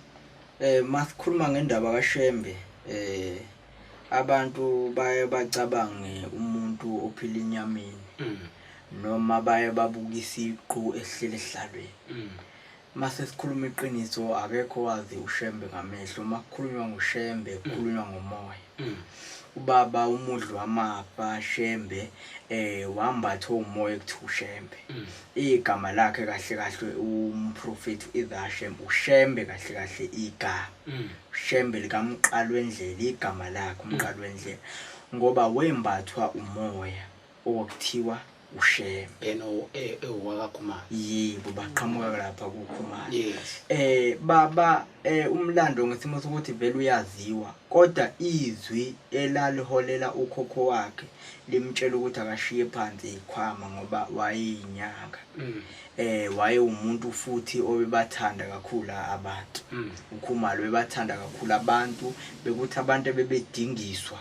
eh masikhuluma ngendaba kaShembe eh Abantu baye bacabange umuntu ophila enyameni mm. noma baye babuka isiqu esihleli esihlalweni mm. mase sikhuluma iqiniso akekho wazi ushembe ngamehlo uma kukhulunywa ngoshembe mm. kukhulunywa ngomoya mm. ubaba umudli wamapa shembe um wambatha umoya ekuthiwa ushembe mm. Igama lakhe kahle kahle umprofethi uIdhashem uShembe kahle kahle iga mm. Shembe likamqalwendlela igama lakhe mm. umqalwendlela ngoba wembathwa umoya okuthiwa uShembe yena ewakaKhumalo e, yebo baqhamuka lapha kuKhumalo yes eh baba Eh umlando ngesimo sokuthi vele uyaziwa kodwa izwi elaliholela ukhokho wakhe limtshela ukuthi akashiye phansi ikhwama ngoba wayeyinyanga. Mm. Eh waye umuntu futhi obebathanda kakhulu abantu. Mm. Ukhumalo bebathanda kakhulu abantu bekuthi abantu bebedingiswa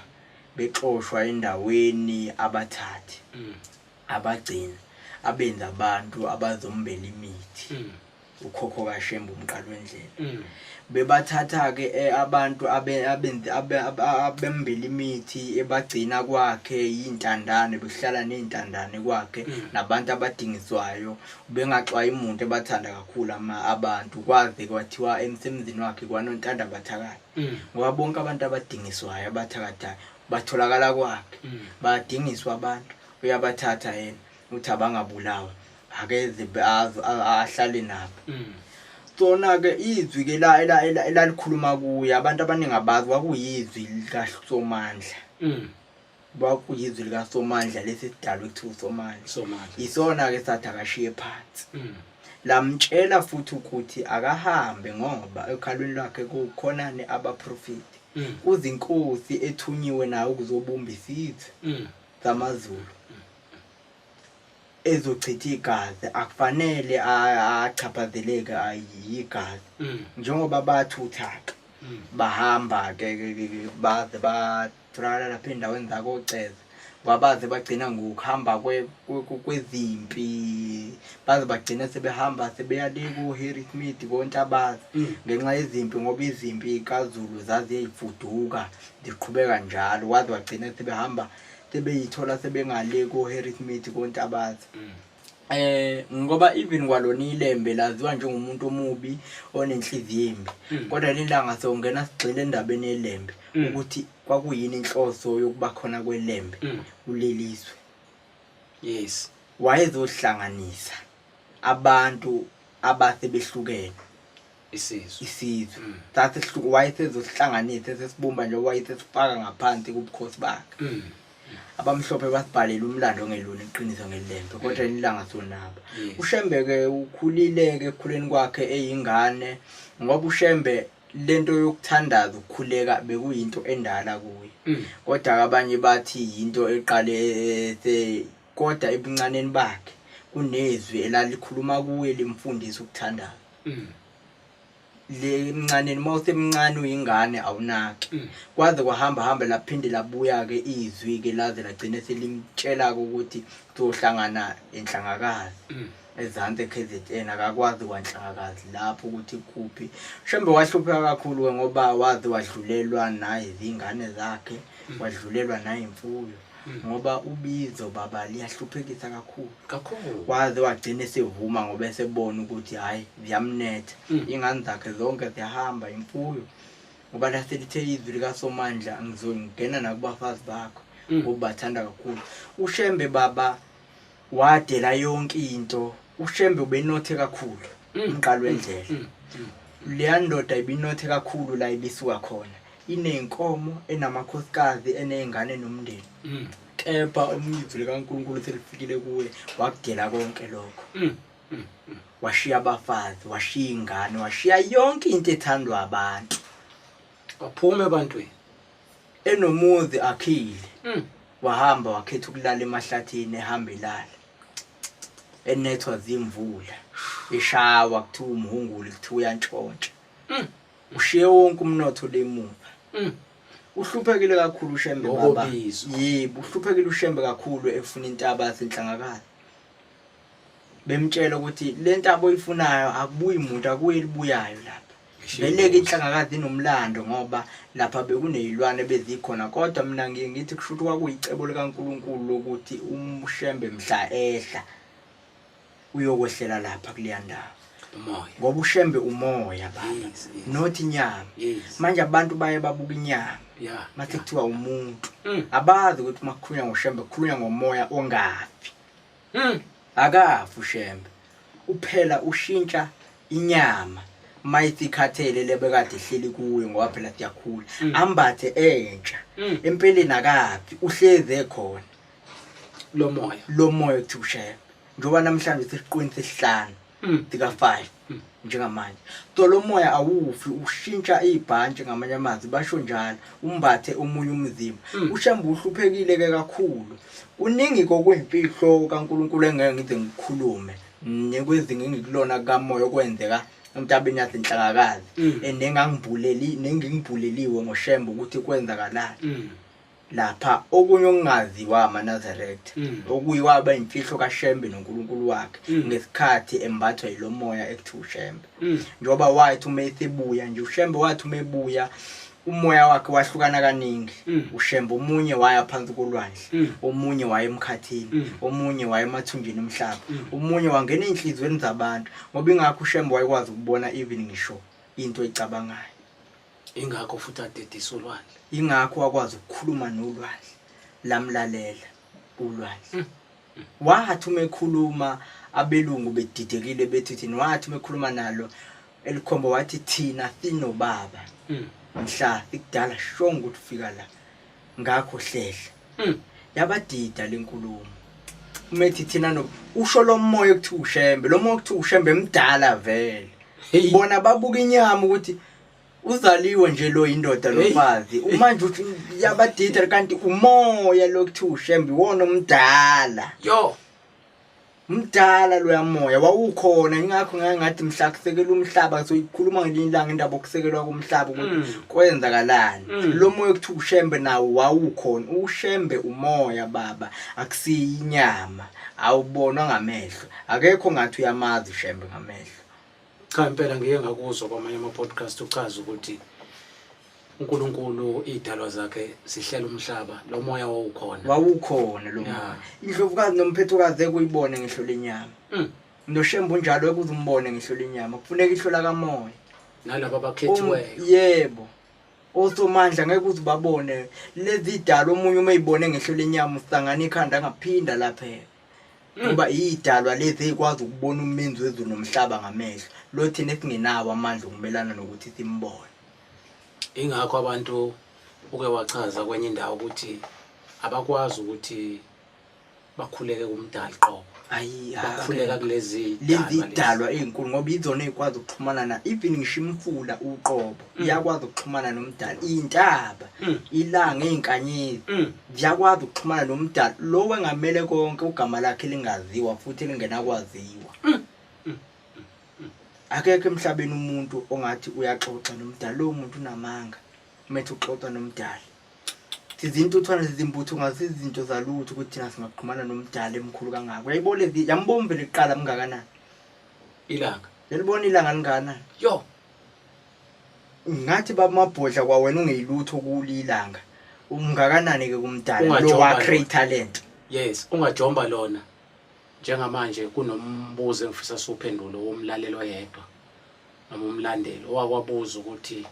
bexoshwa endaweni abathathi. Mm. Abagcina abenza abantu abazombela imithi. Mm. ukhokho kaShembe uMqalwendlela mm. bebathatha ke eh, abantu abembela imithi ebagcina kwakhe yintandane behlala nezintandane kwakhe mm. nabantu abadingiswayo bengaxwayi umuntu ebathanda kakhulu ama abantu kwaze kwathiwa emsebenzini wakhe kwanontanda bathakathi mm. ngoba bonke abantu abadingiswayo abathakathayo batholakala kwakhe badingiswa abantu uyabathatha yena uthi abangabulawa ake zibe azo ahlale nabo mm. sona-ke izwi ke elalikhuluma kuye abantu abaningi abazi kwakuyizwi likasomandla mm. kwakuyizwi likasomandla lesi sidalwa ekuthiwa usomandla yisona-ke sathi akashiye phansi mm. lamtshela futhi ukuthi akahambe ngoba ekhalweni lwakhe kukhonani abaprofeti mm. kuzinkosi ethunyiwe nayo ukuzobumba isizwe zamazulu ezochitha igazi akufanele achaphazeleke yigazi mm. njengoba bathuthaka mm. bahamba ke baze batholakala lapha endaweni zakoceza wabaze bagcina ngokuhamba kwezimpi baze bagcina sebehamba sebeya le ku-harry smith konke abazi mm. ngenxa yezimpi ngoba izimpi kazulu zaziyeyifuduka ziqhubeka njalo waze wagcina sebehamba mm. tebeyithola sebengale koHerithmethi kontabaza mm. eh ngoba even kwalona ilembe laziwa njengomuntu omubi onenhliziyo embi mm. kodwa lelanga sewungena sigxile endabeni yelembe mm. ukuthi kwakuyini inhloso yokuba khona kwelembe kulelizwe yes wayezohlanganisa abantu abase behlukene isizwe isizwe Mm. sasihluku wayesezosihlanganise sesibumba nje wayesesifaka ngaphansi kubukhosi bakhe Mm. abamhlophe basibhalela umlando ongelona iqiniso ngelembe kodwa ilanga sonaba Yes. ushembe-ke ukhulile-ke ekukhuleni kwakhe eyingane ngoba ushembe lento yokuthandaza ukukhuleka bekuyinto endala kuye Mm. kodwa-ke abanye bathi yinto eqale eh, se- kodwa ebuncaneni bakhe kunezwi elalikhuluma kuye limfundisa ukuthandaza mm. le mncaneni uma usemncane uyingane awunaki mm. kwaze kwahamba hamba laphinde labuya-ke izwi-ke laze lagcine selimtshela-ke ukuthi kuzohlangana enhlangakazi mm. ezansi e-k z n akakwazi kwanhlangakazi lapho ukuthi kuphi shembe wahlupheka kakhulu-ke ngoba waze wadlulelwa nayizingane zakhe mm. wadlulelwa nayimfuyo ngoba ubizo baba liyahluphekisa kakhulu kakhulu waze wagcina esevuma ngoba esebona ukuthi hhayi ziyamnetha mm. ingane zakhe zonke ziyahamba imfuyo ngoba laselithe izwi likasomandla ngizongena nakubafazi bakho mm. ngoba bathanda kakhulu ushembe baba Wadela yonke into. UShembe ubenothe kakhulu mm. umqalo wendlela. Mm. Mm. Leya ndoda ibinothe kakhulu la ibisuka khona. Iney'nkomo, enamakhosikazi, eney'ngane nomndeni. Kepha umyivu likaNkulunkulu selifikile kuwe wakudela konke lokho. Washiya abafazi, washiya iy'ngane, washiya yonke into ethandwa abantu. waphume ebantwini enomuzi akhile Mm. wahamba wakhetha ukulala emahlathini ehamba elala enethwa zimvula eshawa kuthiwa umhunguli kuthiwa uyantshontsha Mm. ushiye wonke umnotho lemuva Mm. uhluphekile kakhulu ushembe baba Ngokobizwa. yebo uhluphekile ushembe kakhulu efuna intaba yasenhlangakazi bemtshela ukuthi le nto aboyifunayo akubuyi muntu akuye elibuyayo lapha beleke inhlangakazi inomlando ngoba lapha bekuneyilwane bezikhona kodwa mina ngiye ngithi kusho ukuthi kwakuyicebo likankulunkulu lokuthi umshembe mhla ehla uyokwehlela lapha kuleya ndawo umoya ngoba ushembe umoya baba yes, yes. not inyama yes. manje abantu baye babuka inyama yeah, mathi yeah. kuthiwa umuntu mm. abazi ukuthi uma kukhulunywa ngoshembe kukhulunywa ngomoya ongafi mm. akafi ushembe uphela ushintsha inyama mayithi ikhathele lebekade ihleli kuyo ngoba phela siyakhula mm. ambathe entsha mm. empeleni akafi uhlezi ekhona lomoya lomoya uthi ushembe njengoba namhlanje sesiqweni sesihlanu mm. sika-five mm. njengamanje so lo moya awufi ushintsha ibhantshi ngamanye amazwi basho njalo umbathe omunye umzimba mm. ushamba uhluphekile-ke kakhulu kuningi kokwemfihlo kankulunkulu engeke ngize ngikhulume nekwezinga engikulona kamoya okwenzeka emntabeni yasenhlakakazi mm. and nengangibhuleli nengingibhuleliwe ngoshembe ukuthi kwenzakalani mm. lapha okunye okungaziwa amaNazaretha mm. okuyiwa abayimfihlo kaShembe noNkulunkulu wakhe mm. ngesikhathi embathwa yilomoya ekuthiwa uShembe mm. njengoba wathi uma esebuya nje uShembe wathi uma ebuya umoya wakhe wahlukana kaningi mm. ushembe omunye waya phansi kolwandle mm. omunye waya emkhathini mm. omunye waya emathunjini omhlaba omunye wangena ezinhlizweni zabantu ngoba ingakho ushembe wayekwazi ukubona even ngisho into ecabangayo Ingakho futhi adedisa ulwandle. Ingakho wakwazi ukukhuluma nolwandle lamlalela ulwandle. Hmm. Wathi uma ekhuluma abelungu bedidekile bethi uthini wathi uma ekhuluma nalo elikhombo wathi thina sinobaba. Hmm. Mhla ikudala shonga ukuthi ufika la ngakho hlehla. Hmm. Yabadida lenkulumo. Umethi thina no usho lo moya ukuthi ushembe lo moya ukuthi ushembe emdala vele. Bona babuka inyama ukuthi uzaliwe nje lo indoda lomfazi umanje uthi yabadida kanti umoya lokuthi ushembe iwona omdala yo mdala loya moya wawukhona ingakho ngeke ngathi mhla kusekela umhlaba soyikhuluma ngelinye ilanga indaba okusekelwa kumhlaba ukuthi mm. kwenzakalani mm. lo moya okuthi ushembe nawo wawukhona ushembe umoya baba akusiyi inyama awubonwa ngamehlo akekho ngathi uyamazi ushembe ngamehlo Cha impela ngike ngakuzwa kwamanye ama-podcast uchaza ukuthi uNkulunkulu idalwa zakhe sihlela umhlaba lo moya wawukhona wawukhona lo moya indlovukazi nomphethokazi ekuyibone ngehlo lenyama mm. noshembu njalo ekuze umbone ngehlo lenyama kufuneka ihlo lakamoya nalabo abakhethiweyo um, yebo osomandla ngeke uze babone lezi dalo omunye uma eyibone ngehlo lenyama usangana ikhanda angaphinda laphela ngoba iyidalwa lezi eyikwazi ukubona umenzi wezulu nomhlaba ngamehlo lo thina esingenawo amandla okumelana nokuthi simbone ingakho abantu uke wachaza kwenye indawo ukuthi abakwazi ukuthi bakhuleke kumdali qobo bakhuleka kulezi lezi idalwa ezinkulu ngoba izona ezikwazi ukuxhumana na even ngisho imfula uqobo Mm. iyakwazi ukuxhumana nomdala iyintaba mm. ilanga izinkanyezi mm. ziyakwazi ukuxhumana nomdala lo wengamele konke ugama lakhe lingaziwa futhi lingenakwaziwa akekho emhlabeni umuntu ongathi uyaxoxa nomdala lowo muntu unamanga umethe uxoxa nomdala sizintuthwane sizimbutho ngazizinto zalutho ukuthi thina singaqhumana nomdala emkhulu kangako yayibona yambombe liqala mngakanani ilanga yalibona ilanga lingakanani yo ngathi babamabhodla kwawena ungeyilutho kulilanga umngakanani ke kumdala lo wa create talent yes ungajomba lona njengamanje kunombuzo engifisa siwuphendule womlalelo yedwa noma umlandeli owakwabuza ukuthi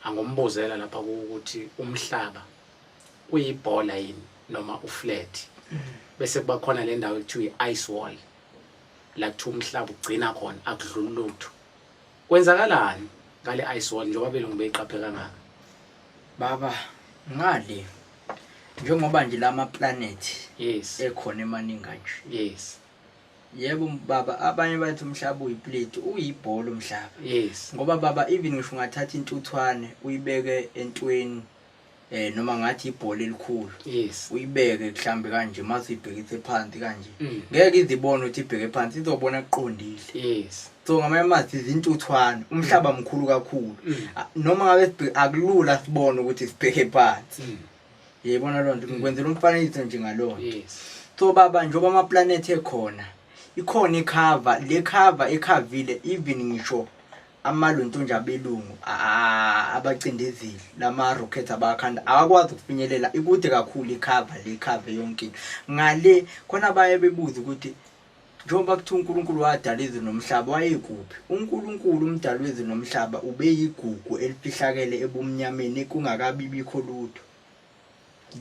angombuzela lapha ukuthi umhlaba uyibhola yini noma uflat mm. bese kuba khona le ndawo ekuthiwa i-ice wall la kuthiwa umhlaba ugcina khona akudluli lutho kwenzakalani ngale ice wall njengoba belungu beyiqaphe kangaka baba ngale njengoba nje lama planet yes ekhona emaningi kanje yes yebo baba abanye bathi umhlaba uyiplate uyibhola umhlaba yes ngoba baba even ngisho ungathatha intuthwane uyibeke entweni eh noma ngathi ibhola elikhulu yes uyibeke mhlambe kanje mase ibhekise phansi kanje Mm. ngeke izibone ukuthi ibheke phansi izobona kuqondile yes so ngamanye amathi izintuthwane umhlaba mkhulu kakhulu Mm. A- noma ngabe sibhe- akulula sibone ukuthi sibheke phansi Mm. yayibona loo nto ngikwenzela umfanekiso nje ngalona yes so baba njengoba amaplanethi ekhona ikhona ikhava le khava ekhavile even ngisho amaluntunja abelungu abacindezeli lama-rocket abakhanda awakwazi ukufinyelela ikude kakhulu ikhava le khava yonke ngale khona baye bebuze ukuthi njengoba kuthiwa unkulunkulu wadala izwe nomhlaba wayekuphi unkulunkulu umdala wezwe nomhlaba ubeyigugu elifihlakele ebumnyameni kungakabibikho lutho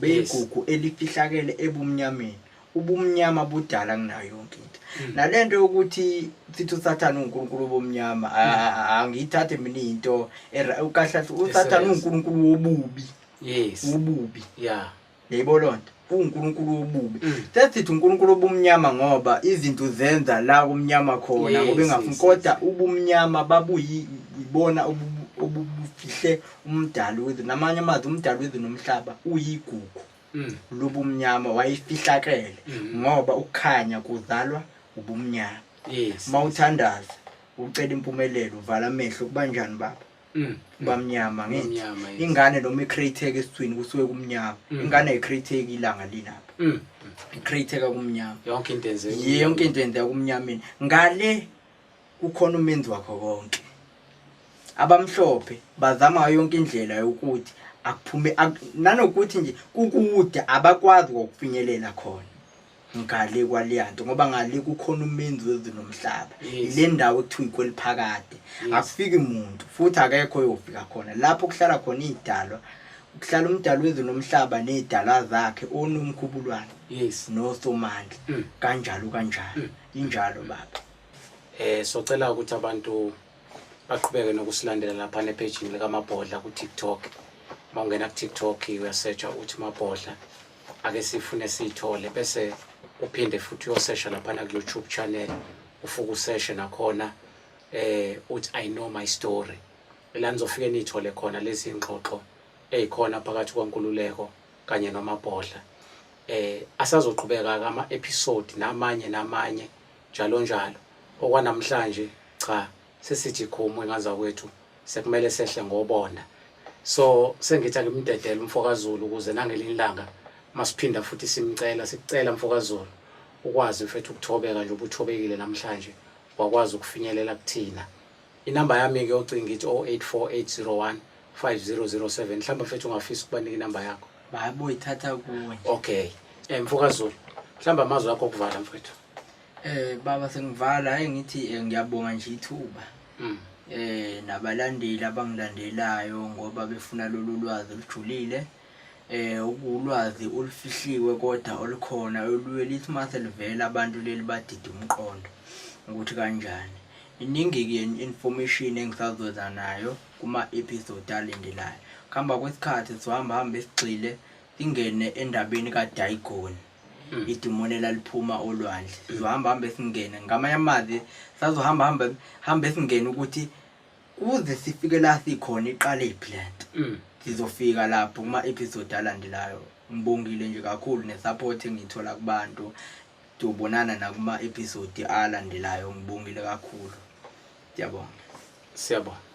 beyigugu elifihlakele ebumnyameni ubumnyama budala kunayo yonke into hmm. nale nto yokuthi sithi usathane uwunkulunkulu wobumnyama hmm. angiyithathe mina into kahle usathane uwunkulunkulu wobubi yes ububi yeah yebo lonto uwunkulunkulu wobubi hmm. sesithi unkulunkulu obumnyama ngoba izinto zenza la kumnyama khona ngoba engafuni kodwa ubumnyama babuyibona obubufihle umdali wethu namanye amazwi umdali wethu nomhlaba uyigugu mm. lobumnyama wayifihlakele mm. ngoba ukukhanya kuzalwa ubumnyama yes. uma uthandaza ucela impumelelo uvala amehlo kuba njani baba mm. bamnyama ngithi ingane noma icreateke esithwini kusuke kumnyama mm. ingane ayicreateki ilanga lilapha mm. icreateka kumnyama yonke into enzeka yonke into enzeka kumnyameni ngale kukhona umenzi wakho konke abamhlophe bazama ngayo yonke indlela yokuthi akuphume ak- nanokuthi nje kukude abakwazi kokufinyelela khona ngale kwaliyanto ngoba ngale kukhona umenzi wezulu nomhlaba Yes. ile ndawo ekuthiwa ikweliphakade Yes. akufiki muntu futhi akekho oyofika khona lapho kuhlala khona iy'dalwa kuhlala umdali wezulu nomhlaba ney'dalwa zakhe onomkhubulwane yes nosomandla Mm. kanjalo kanjalo injalo baba Eh socela ukuthi abantu baqhubeke nokusilandela lapha nephejini likamabhodla ku-tiktok uma ungena ku-tiktok uyasetshwa uthi mabhodla ake sifune siyithole bese uphinde futhi uyosesha laphana ku-youtube channel ufuke useshe nakhona eh uthi i know my story la nizofike niyithole khona lezi ngxoxo ezikhona phakathi kwankululeko kanye nomabhodla eh asazoqhubeka kama-episode namanye namanye njalonjalo. Okwanamhlanje cha sesithi khumu engazakwethu sekumele sehle ngobonda. So sengithi angimdedele umfokaZulu ukuze nangelinye ilanga masiphinda futhi simcela sicela mfokaZulu ukwazi mfethu ukuthobeka nje ubuthobekile namhlanje wakwazi ukufinyelela kuthina. Inamba yami ke ocinga ithi 084801 5007 mhlawumbe mfethu ungafisa ukubanika inamba yakho. Bayaboyithatha kuwe. Okay. Eh mfokaZulu mhlawumbe amazwi akho okuvala mfethu. Eh baba sengivala hayi ngithi eh, ngiyabonga nje ithuba. Mm. Eh nabalandeli abangilandelayo ngoba befuna lolu lwazi olujulile. Eh ukulwazi olufihliwe kodwa olukhona oluye lithi mase livela abantu leli badida umqondo ukuthi kanjani. Iningi ke information engisazoza nayo kuma episode alendelayo. Khamba kwesikhathi sizohamba hamba esigxile ingene endabeni kaDaigoni. Mm. idimoni elaliphuma olwandle sizohamba hamba esingene ngamanye amazi sazohamba hamba hamba esingene ukuthi kuze sifike la sikhona iqale iphi le nto mm. sizofika lapho kuma-episode alandelayo ngibongile nje kakhulu ne-support engiyithola kubantu tobonana nakuma-episode alandelayo ngibongile kakhulu ndiyabonga siyabonga